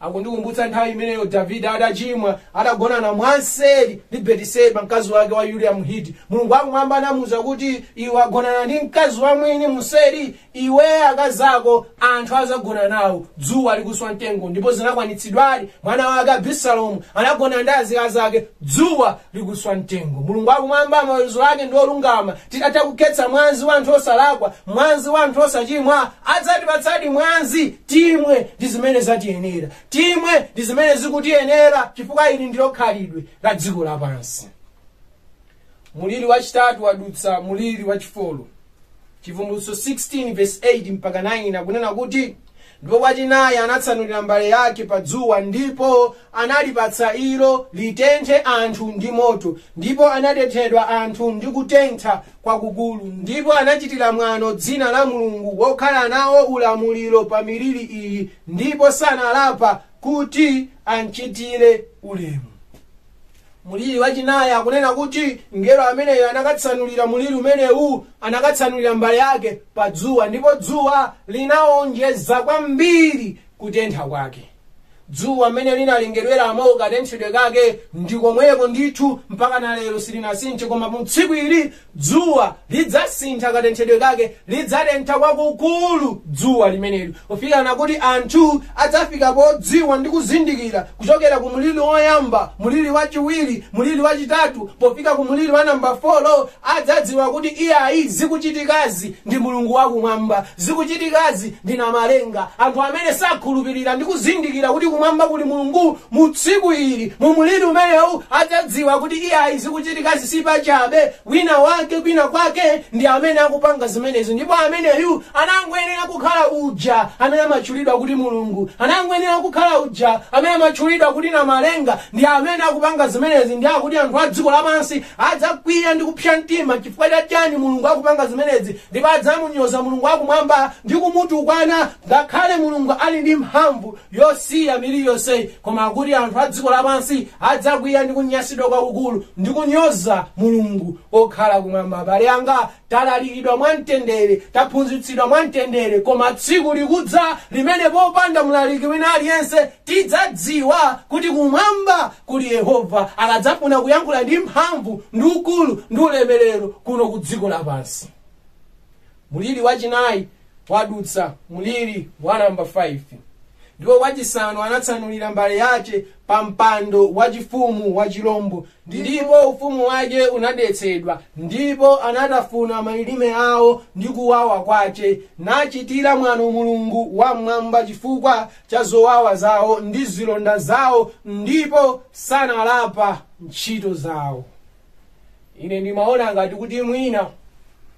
akundikumbutsa nthawi imeneyo davide atachimwa adagonana mwamseri ndi betiseba mkazi wake wa yuliya mhiti mulungu wakumwamba anamuwuza kuti iwe wagonana ndi mkazi wa mwini mumseri iwe akazi ako anthu azagona nawo dzuwa likuswa mtengo ndipo zinakwanitsidwadi mwana wake abisalomu anagona ndi azikazi ake dzuwa likuswa mtengo mulungu wakumwamba maweruzo ake ndi olungama titatha kukhetsa mwazi wa anthu osalakwa mwazi wa anthu osachimwa adzatipatsadi mwazi timwe ndi zimene zatiyenera timwe ndi zimene zikutiyenera chifukwa ili ndilo khalidwe la dziko lapansi muliri wachitatu wadutsa muliri wachi 4 chivumbulutso 16 verse 8 mpaka 9 akunena kuti Ndipo wachinayi anatsanulira mbale yake pa dzuwa, ndipo analipatsa ilo litenthe anthu ndi moto, ndipo anatenthedwa anthu ndi kutentha kwakukulu, ndipo anachitira mwano dzina la Mulungu wokhala nawo ulamuliro pa miliri iyi, ndipo sanalapa kuti amchitire ulemu. mliri wachinayi akunena kuti mngelo ameneyu anakatsanulira mliri umenewu anakatsanulira mbale yake pa dzuwa ndipo dzuwa linawonjeza kwambiri kutentha kwake dzuwa mmene linalengedweramo katenthedwe kake ndi komweko ndithu mpaka na lero silinasinthe koma mu tsiku ili Dzuwa lidzasintha katenthedwe kake, lidzatentha kwakukulu dzuwa limeneli, pofikana kuti anthu adzafika podziwa ndi kuzindikira kuchokera ku mliri woyamba, mliri wachiwiri, mliri wachitatu, pofika ku mliri wa namba 4, adzadziwa kuti iyayi zikuchitikazi ndi Mulungu wakumwamba. Zikuchitikazi ndi Namalenga. Anthu amene sakhulupirira ndi kuzindikira kuti kumwamba kuli Mulungu mu tsiku ili, mu mliri umenewu, adzadziwa kuti iyayi zikuchitikazi si pachabe. Wina wake kwina kwake ndi amene akupanga zimenezi ndipo ameneyu anangoyenera kukhala uja amene amatchulidwa kuti Mulungu, anangoyenera kukhala uja amene amatchulidwa kuti Namalenga, ndi amene akupanga zimenezi ndi akuti anthu a dziko lapansi adzakwiya ndi kupsya mtima chifukwa cha chani Mulungu akupanga zimenezi ndipo adzamunyoza mulungu wakumwamba ndi kumutukwana ngakhale mulungu ali ndi mphamvu yosiya miliri yonseyi koma kuti anthu a dziko lapansi adzakwiya ndi kunyasidwa kwakukulu ndi kunyoza mulungu okhala kumwamba abale anga talalikidwa mwamtendere taphunzitsidwa mwamtendere koma tsiku likudza limene popanda mlaliki wina aliyense tidzadziwa kuti kumwamba kuti yehova akadzafuna kuyankhula ndi mphamvu ndi ukulu ndi ulemerero kuno ku dziko lapansi muliri wachinayi wadutsa muliri wa namba 5 ndipo wachisanu anatsanulira mbale yace pa mpando wachifumu wa chilombo ndipo ufumu wace unadetsedwa ndipo anatafuna malilime awo ndi kuwawa kwace nachitira mwano mulungu wa m'mwamba chifukwa cha zowawa zawo ndi zilonda zawo ndipo sanalapa ntchito zawo ine ndimaona ngati kuti mwina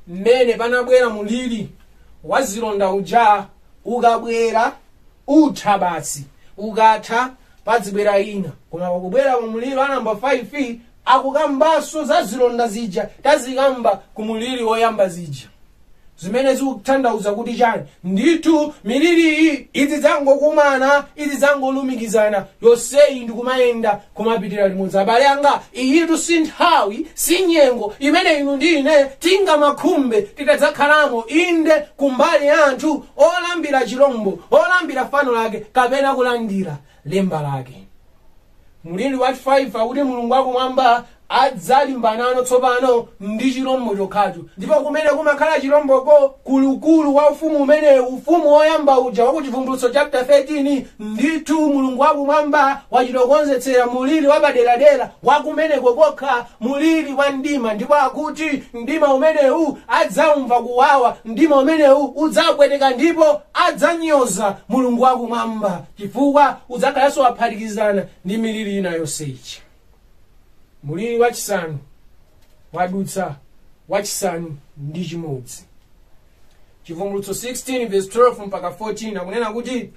mmene panabwera mulili wa zilonda uja ukabwera utha basi ukatha padzibwera ina koma pakubwera ku mulili wa namba 5 akukambanso za zilonda zija tazikamba ku mulili woyamba zija zimene zikutanthauza kuti chani ndithu miliri iyi izidzangokumana izidzangolumikizana yonseyi ndikumayenda kumapitira limodzi abale anga iyitu si nthawi si nyengo imene inu ndi ine tingamakhumbe titadzakhalamo inde kumbali ya anthu olambira chilombo olambira fano lace kapena kulandira lemba lake mliri wa 5 akuti mulungu wakumwamba adzalimbanano tsopano ndi chirombo chokhachocho ndipo kumene kumakhala chiromboko kulukulu wa ufumu umene ufumu woyamba uja wa kuchivumbulutso chapter 13 ndithu mulungu wakumwamba wachitokonzetsera muliri wapaderadera wakumeneko kokha muliri wa mdima ndipo akuti mdima umenewu adzaumva kuwawa mdima umenewu udzapweteka ndipo adzanyoza mulungu wakumwamba chifukwa udzakhalanso waphatikizana ndi miliri ina yonse ichi muliri wachisanu wadutsa wachisanu ndi chimodzi chivumbulutso 16 verse 12 mpaka 14 akunena kuti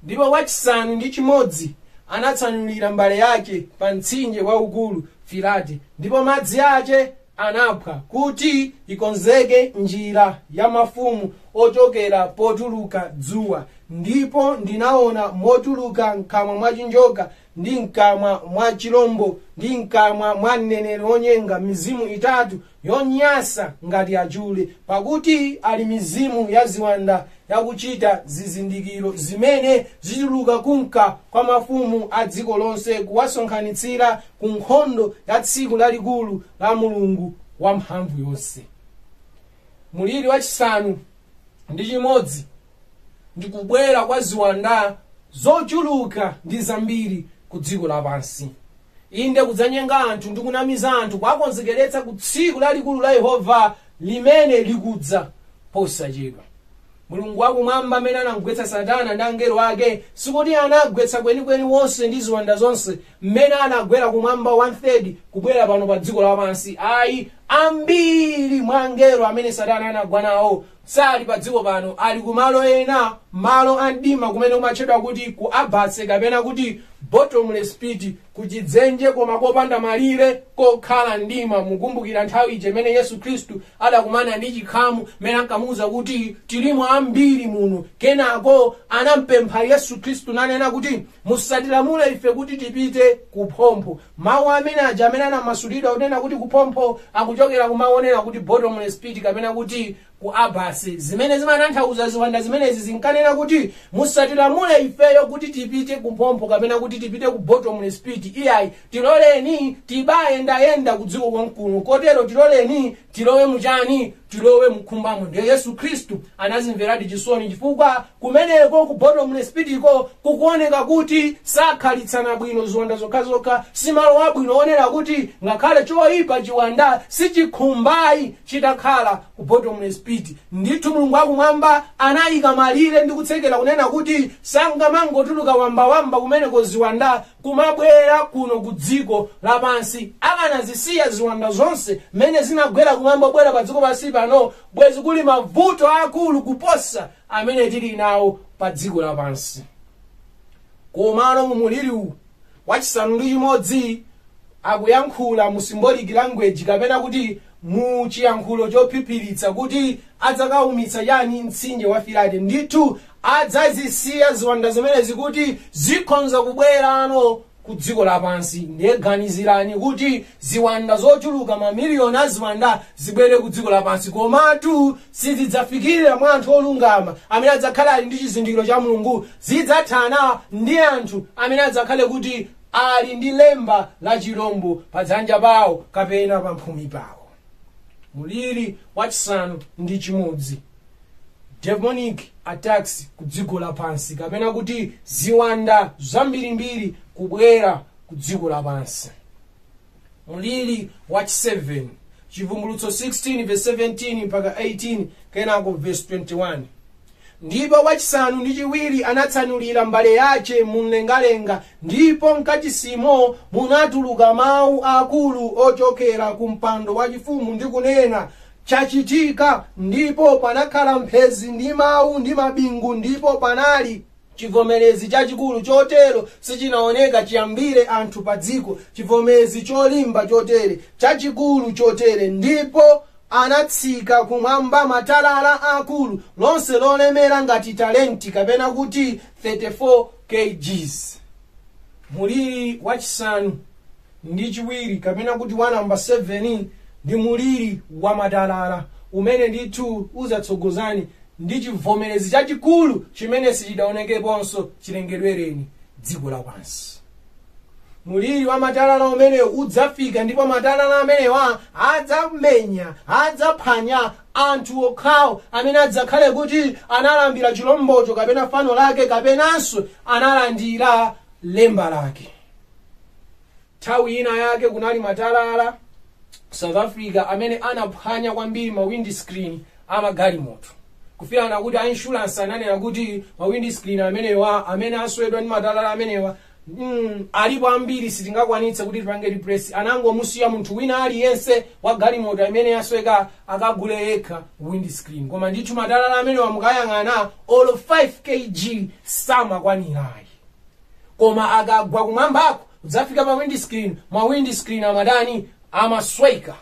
ndipo wachisanu ndi chimodzi anatsanulira mbale yace pa mtsinje waukulu firate ndipo madzi ace anaphwa kuti ikonzeke njira ya mafumu ochokera potuluka dzuwa ndipo ndinaona motuluka mkamwa mwa chinjoka ndi mkamwa mwa chilombo ndi mkamwa mwa mneneri wonyenga mizimu itatu yonyasa ngati achule pakuti ali mizimu ya ziwanda yakuchita zizindikiro zimene zituluka kumka kwa mafumu a dziko lonse kuwasonkhanitsira ku nkhondo ya tsiku lalikulu la mulungu wamphamvu yonse muliri wachisanu ndi chimodzi ndi kubwera kwa ziwanda zochuluka ndi zambiri ku dziko lapansi inde kudzanyenga anthu ndi kunamiza anthu kuwakonzekeretsa ku tsiku lalikulu la yehova limene likudza posachedwa mulungu wakumwamba amene anamgwetsa satana ndi angelo ake sikuti anagwetsa kwenikweni wonse ndi ziwanda zonse mmene anagwera kumwamba 1/3 kubwera pano pa dziko lapansi ayi ambiri mwa angelo amene satana anagwa nawo sali pa dziko pano ali kumalo ena malo a mdima kumene kumatchedwa kuti ku abyss kapena kuti bottomless pit kuchidzenje koma kopanda malire kokhala mdima mukumbukira nthawi ija imene yesu khristu adakumana ndi chikhamu mmene ankamuwuza kuti tilimo ambiri muno kenako anampempha yesu khristu nanena kuti musatilamule ife kuti tipite kuphompho mawu amene aja amene anamasulidwa kunena kuti kuphompho akuchokera kumawu onena kuti bottomless pit kapena kuti ku abyss zimene zimatanthauza ziwanda zimenezi zinkanena kuti musatilamule ifeyo kuti tipite kuphompho kapena kuti tipite ku bottomless pit iyayi tiloleni tibayendayenda ku dziko konkuno kotero tiloleni tilowe muchani tilowe mu nkhumbamo ndiye yesu khristu anazimveradi chisoni chifukwa kumeneko ku bottomless pit ko kukuoneka kuti sakhalitsana bwino ziwanda zokhazokha simalo abwino oonera kuti ngakhale choyipa chiwanda sichikhumbayi chitakhala ku bottomless pit ndithu mulungu wakumwamba anayika malire ndi kutsekera kunena kuti sangamangotuluka wambawamba kumeneko ziwanda kumabwera kuno ku dziko lapansi akanazisiya ziwanda zonse mmene zinagwera kumwamba kubwera pa dziko pansi pano bwezi kuli mavuto aakulu kuposa amene tili nawo pa dziko lapansi komano mu muliri uwu wachisanu ndi chimodzi akuyankhula mu symbolic language kapena kuti mu chiyankhulo chophiphiritsa kuti adzakaumitsa chani mtsinje wa firate ndithu adzazisiya ziwanda zimenezi kuti zikhonza kubwerano ku dziko lapansi ndiye ganizirani kuti ziwanda zochuluka mamiliyoni a ziwanda zibwere ku dziko lapansi komatu Sizidzafikirira mwa anthu olungama amene adzakhale ali ndi chizindikiro cha Mulungu. Zidzathana ndi anthu amene adzakhale kuti ali ndi lemba la chirombo pa dzanja pawo kapena pa mphumi pawo. Muliri wachisanu ndi chimodzi demonic attacks ku dziko lapansi kapena kuti ziwanda zambirimbiri kubwera ku dziko lapansi. mliri wachi7 chivumbulutso 16 verse 17 mpaka 18 kenako verse 21 ndipo wachisanu ndi chiwiri anatsanulira mbale yace mumlengalenga ndipo mkachisimo munatuluka mawu akulu ochokera ku mpando wachifumu ndi kunena chachitika ndipo panakhala mphezi ndi mawu ndi mabingu ndipo panali chivomerezi chachikulu chotero sichinaoneka chiyambire anthu pa dziko chivomerezi cholimba chotere chachikulu chotere ndipo anatsika kumwamba matalala akulu lonse lolemera ngati talenti kapena kuti 34 kgs muliri wachisanu ndi chiwiri kapena kuti wa namba 7 ndi muliri wa matalala umene ndithu udzatsogozana ndi chivomerezi chachikulu chimene sichidaonekeponso chilengedwereni dziko lapansi muliri wa matalala umenewu udzafika ndipo matalala amenewa adzamenya adzaphwanya anthu okhawo amene adzakhale kuti analambira chilombocho kapena fano lake kapenanso analandira lemba lake nthawi ina yake kunali matalala south africa amene anaphwanya kwambiri ma wind screen amagalimoto kufikira kuti a insurance ananena kuti ma wind screen amenewa amene aswedwa ndi matalala amenewa mm, alipo ambiri sitingakwanitse kuti tipange replace anangomusiya munthu wina aliyense wa galimoto imene yasweka akagule yekha wind screen koma ndithu matalala amenewa mukayang'ana olo 5 kg samakwanirayi koma akagwa kumwambako kudzafika pa windscreen ma windscreen amatani amasweka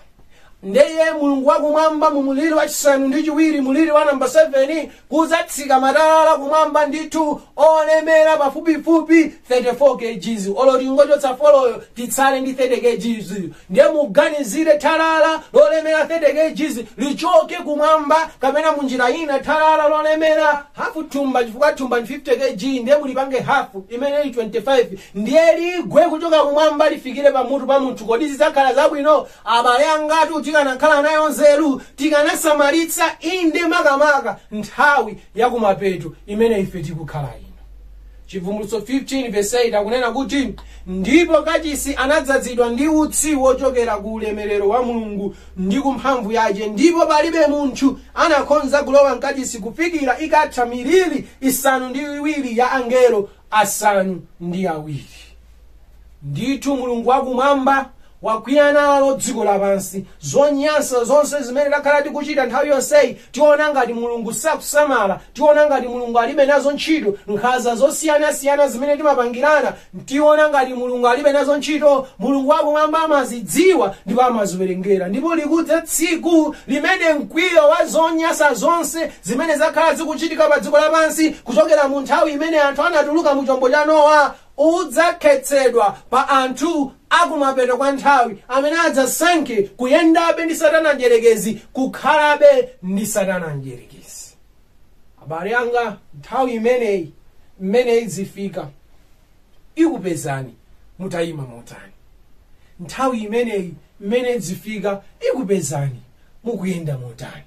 ndeye mulungu wakumwamba mu muliri wachisanu ndi chiwiri muliri wa namba 7 kudzatsika matalala kumwamba ndithu olemera pafupifupi 34 kgs olo tingochotsa foloyo titsale ndi 30 kgs ndiye muganizire thalala lolemera 30 kgs lichoke kumwamba kapena munjira ina thalala lolemera hafu thumba chifukwa thumba ndi 50 kg ndiye mulipange hafu imene ili 25 ndiye ligwe kuchoka kumwamba lifikire pamutu pa munthu kodi zidzakhala zabwino abale angatu tikanakhala nayo nzeru tikanasamalitsa inde makamaka nthawi yakumapeto imene ife tikukhala ino Chivumbulutso 15 verse 8 akunena kuti ndipo kachisi anadzadzidwa ndi utsi wochokera ku ulemerero wa mulungu ndi ku mphamvu yace ndipo palibe munthu anakhonza kulowa mkachisi kufikira ikatha miliri isanu ndi iwiri ya angelo asanu ndi awiri ndithu mulungu wakumwamba wakwiya nalo dziko lapansi zonyansa zonse zimene takhala tikuchita nthawi yonseyi tiona ngati mulungu sakusamala tiona ngati mulungu alibe nazo ntchito nkhanza zosiyanasiyana zimene timapangirana tiona ngati mulungu alibe nazo ntchito mulungu wakumwamba amazidziwa ndipo amaziwerengera ndipo likudza tsiku limene mkwiyo wa zonyansa zonse zimene zakhala zikuchitika pa dziko lapansi kuchokera mu nthawi imene anthu anatuluka mu chombo cha nowa udzakhetsedwa pa anthu a kumapeto kwa nthawi amene adzasankhe kuyendabe ndi satana mdyerekezi kukhalabe ndi satana mdyerekezi abale anga nthawi imeneyi mmene idzifika ikupezani mutayima motani nthawi imeneyi mmene idzifika ikupezani mukuyenda motani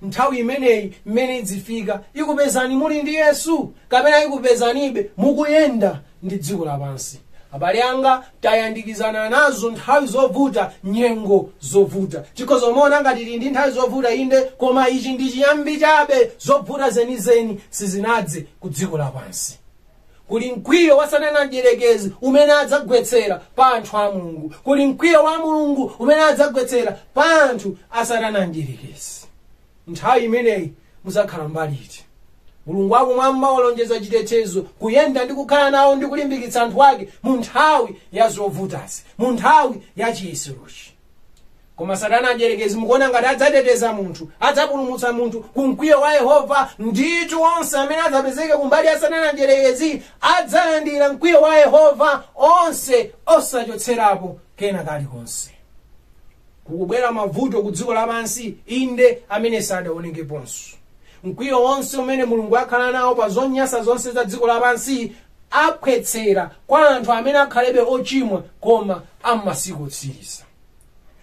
nthawi imeneyi mmene idzifika ikupezani muli ndi yesu kapena ikupezanibe mukuyenda ndi dziko lapansi abale anga tayandikizana nazo nthawi zovuta nyengo zovuta tikhoza kumaona ngati tili ndi nthawi zovuta inde koma ichi ndi chiyambi chabe zovuta zenizeni sizinadze ku dziko lapansi kuli mkwiyo wa satana mdyerekezi umene adzagwetsera pa anthu a mulungu kuli mkwiyo wa mulungu umene adzagwetsera pa anthu a satana mdyerekezi nthawi imeneyi mudzakhala mbali iti mulungu wakumwamba walonjeza chitetezo kuyenda ndi kukhala nawo ndi kulimbikitsa anthu ake mu nthawi ya zovutazi mu nthawi ya chiyeserochi koma satana adyerekezi mukuona ngati adzateteza munthu adzapulumutsa munthu ku mkwiyo wa yehova ndithu onse amene adzapezeke kumbali ya satana adyerekezi adzalandira mkwiyo wa yehova wonse osachotserapo kena kalikonse kukubwera mavuto ku dziko lapansi inde amene sadaonekeponso mkwiyo wonse umene mulungu akhala nawo pa zonyansa zonse za dziko lapansi aphwetsera kwa anthu amene akhalebe ochimwa koma am'masiku otsiriza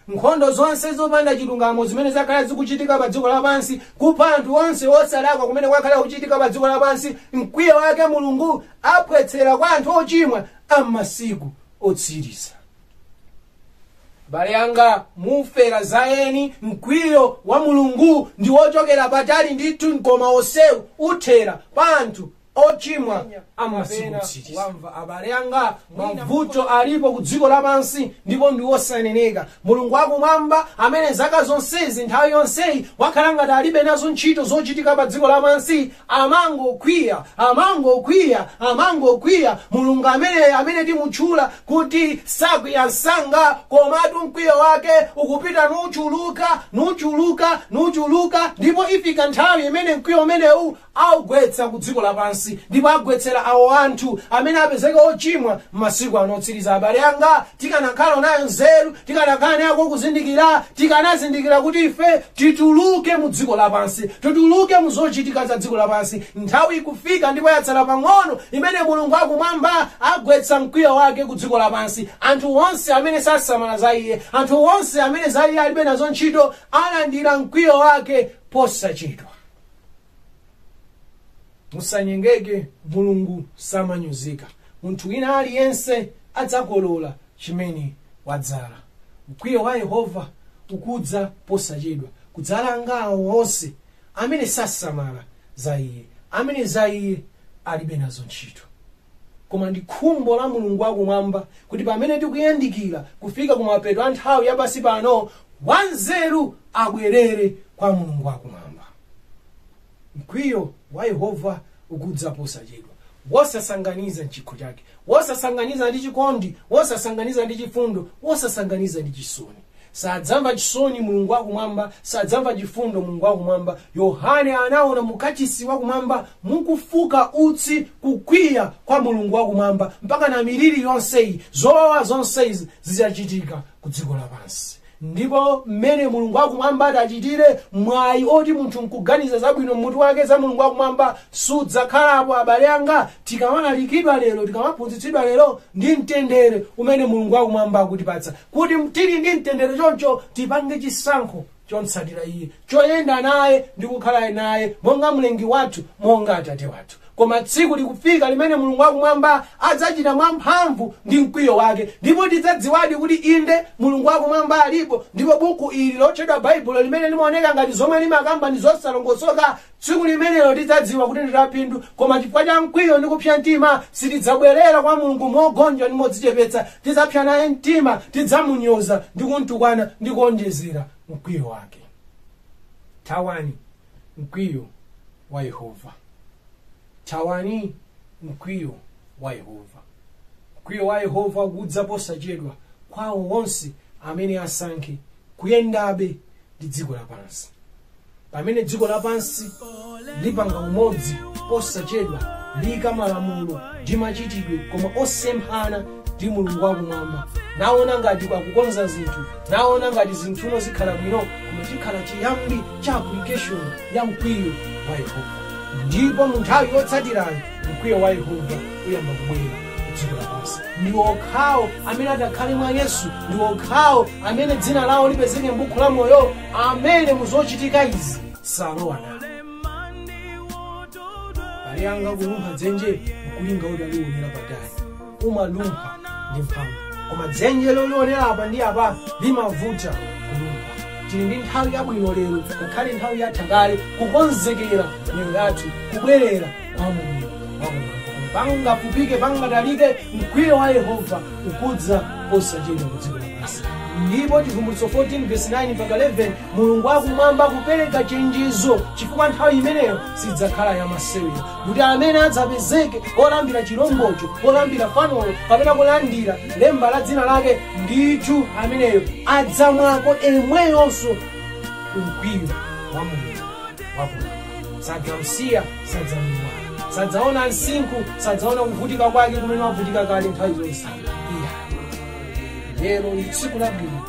nkhondo zonse zopanda chilungamo zimene zakhala zikuchitika pa dziko lapansi kupha anthu onse osalakwa kumene kwakhala kuchitika pa dziko lapansi mkwiyo wake mulungu aphwetsera kwa anthu ochimwa am'masiku otsiriza abale anga mufera za eni mkwiyo wa mulungu ndi wochokera patali ndithu koma onsewu uthera pa anthu ochimwa amasiku otsiriza ano abale anga mavuto alipo ku dziko lapansi ndipo ndi osaneneka mulungu wakumwamba amene zaka zonsezi nthawi yonseyi wakhala ngati alibe nazo ntchito zochitika pa dziko lapansi amangokwiya amangokwiya amangokwiya mulungu amene amene timutchula kuti sakwiya msanga komatu mkwiyo wake ukupita nuchuluka nuchuluka nuchuluka ndipo ifika nthawi imene mkwiyo umenewu awugwetsa ku dziko lapansi ndipo agwetsera awo anthu amene apezeka ochimwa m'masiku ano otsiriza abale anga tikanakhala nayo nzeru tikanakhala nako kuzindikira tikanazindikira kuti ife tituluke mu dziko lapansi tituluke mu zochitika za dziko lapansi nthawi ikufika ndipo yatsala pang'ono imene mulungu akumwamba agwetsa mkwiyo wake ku dziko lapansi anthu onse amene sasamala za iye anthu onse amene za iye alibe nazo ntchito alandira mkwiyo wake posachedwa musanyengeke mulungu samanyozeka munthu wina aliyense adzakolola chimene wadzala mkwiyo wa yehova ukudza posachedwa kudzalanga awo onse amene sasamala za iye amene za iye alibe nazo ntchito koma ndi khumbo la mulungu wakumwamba kuti pamene tikuyandikira kufika kumapeto a nthawi yapansi pano wanzeru abwerere kwa mulungu wakumwamba mkwiyo wa yehova ukudza posachedwa wosasanganiza mchikho chake wosasanganiza ndi chikondi wosasanganiza ndi chifundo wosasanganiza ndi chisoni sadzamva chisoni mulungu wakumwamba sadzamva chifundo mulungu wakumwamba yohane anaona mukachisi wakumwamba mukufuka utsi kukwiya kwa mulungu wakumwamba mpaka na miliri yonseyi zowawa zonseyi zidzachitika ku dziko lapansi ndipo mmene mulungu akumwamba atachitire mwayi oti munthu nkuganiza zabwino mmutu wake za mulungu akumwamba sudzakhalapo abale anga tikamalalikidwa lero tikamaphunzitsidwa lero ndi mtendere umene mulungu akumwamba akutipatsa kuti tili ndi mtendere choncho tipange chisankho chomtsatira iye choyenda naye ndi kukhala naye monga mlengi wathu monga atate wathu koma tsiku likufika limene mulungu wakumwamba adzachita mwamphamvu ndi mkwiyo wake ndipo tidzadziwadi kuti inde mulungu wakumwamba alipo ndipo buku ili lotchedwa baibulo limene limaoneka ngati zomwe limakamba ndi zosalongosoka Tsiku limenelo tidzadziwa kuti ndi laphindu, koma chifukwa cha mkwiyo ndi kupsa mtima, sitidzabwerera kwa Mulungu mogonja ndi modzichepetsa. Tidzapsa naye mtima, tidzamunyoza ndi kumtukwana ndi kuonjezera mkwiyo wake. Thawani mkwiyo wa Yehova. Thawani mkwiyo wa Yehova. mkwiyo wa yehova ukudza posachedwa kwa awo onse amene asankhe kuyendabe ndi dziko lapansi pamene dziko lapansi lipanga umodzi posachedwa liyika malamulo ndi machitidwe koma osemphana ndi mulungu wakumwamba naona ngati akukonza zinthu naona ngati zinthuno zikhala bwino koma chikhala chiyambi cha application ya mkwiyo wa yehova ndipo mu nthawi yotsatirayo mkwiyo wa yehova uyamba kubwera kudziko lapansi ndi okhawo amene atakhale mwa yesu ndi okhawo amene dzina lawo lipezeka m'buku la moyo amene muzochitika izi salowa nawo abale anga kulumpha dzenje nkulinga utaliwonera patali umalumpha ndi mphamvu koma dzenje lolionera apa ndi apa limavuta kulumpha tili ndi nthawi yabwino lero ngakhale nthawi yatha kale kukonzekera miyoyo yathu kubwerera kwa mulungu wakumwamba pangafupike pangatalike mkwiyo wa yehova ukudza posachedwa kudziko lapansi ndipo chivumbulutso 14 verse 9 mpaka 11 mulungu wakumwamba akupereka chenjezo chifukwa nthawi imeneyo sidzakhala yamasewera kuti amene adzapezeke olambira chilombocho olambira fanolo kapena kulandira lemba la dzina lake ndithu ameneyo adzamwako emweyonso mkwiyo wa mulungu wakuda sadzamsiya sadzamuwala sadzaona msinkhu sadzaona kuvutika kwake kumene wavutika kale nthawi zonse iyayi lero ndi tsiku labwino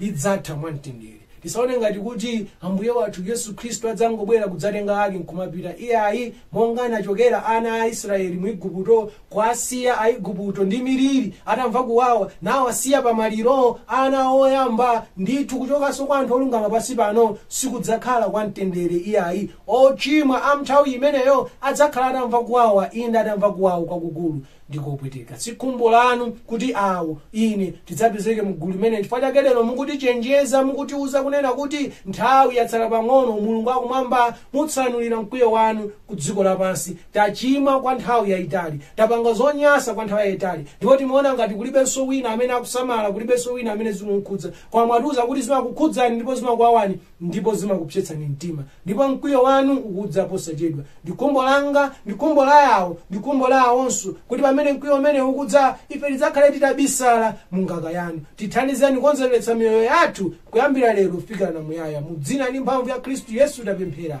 lidzatha mwamtendere tisaone ngati kuti ambuye wathu yesu khristu adzangobwera kudzatenga ake nkumapita iyayi monga anachokera ana a israeli mu igupto kuasiya aigupto ndi miliri atamva kuwawa nawo asiya pamaliro ana oyamba ndithu kuchokanso kwa anthu olungama pansi pano sikudzakhala kwa mtendere iyayi ochimwa a mnthawi imeneyo adzakhala atamva kuwawa inde atamva kuwawa kwakukulu ndi kopweteka si khumbo lanu kuti awo ine tidzapezeke mgulu limeneli chifukwa chake lero mukutichenjeza mukutiuza kunena kuti nthawi yatsala pang'ono mulungu akumwamba mutsanulira mkwiyo wanu ku dziko lapansi tachimwa kwa nthawi yayitali tapanga zonyasa kwa nthawi yayitali ndipo timaona ngati kulibenso wina amene akusamala kulibenso wina amene zikumkhudza koma mwatiuza kuti zimakukhudzani ndipo zimakuwawani ndipo zimakupsetsani mtima ndipo mkwiyo wanu ukudza posachedwa ndi khumbo langa ndi khumbo la awo ndi khumbo la awonso kuti pamene mkwiyo umenewu ukudza ife tidzakhale titabisala mu nganga yanu tithandizeni kukonzekeretsa miyoyo yathu kuyambira lero kufikira na muyaya mu dzina ndi mphamvu ya khristu yesu tapemphera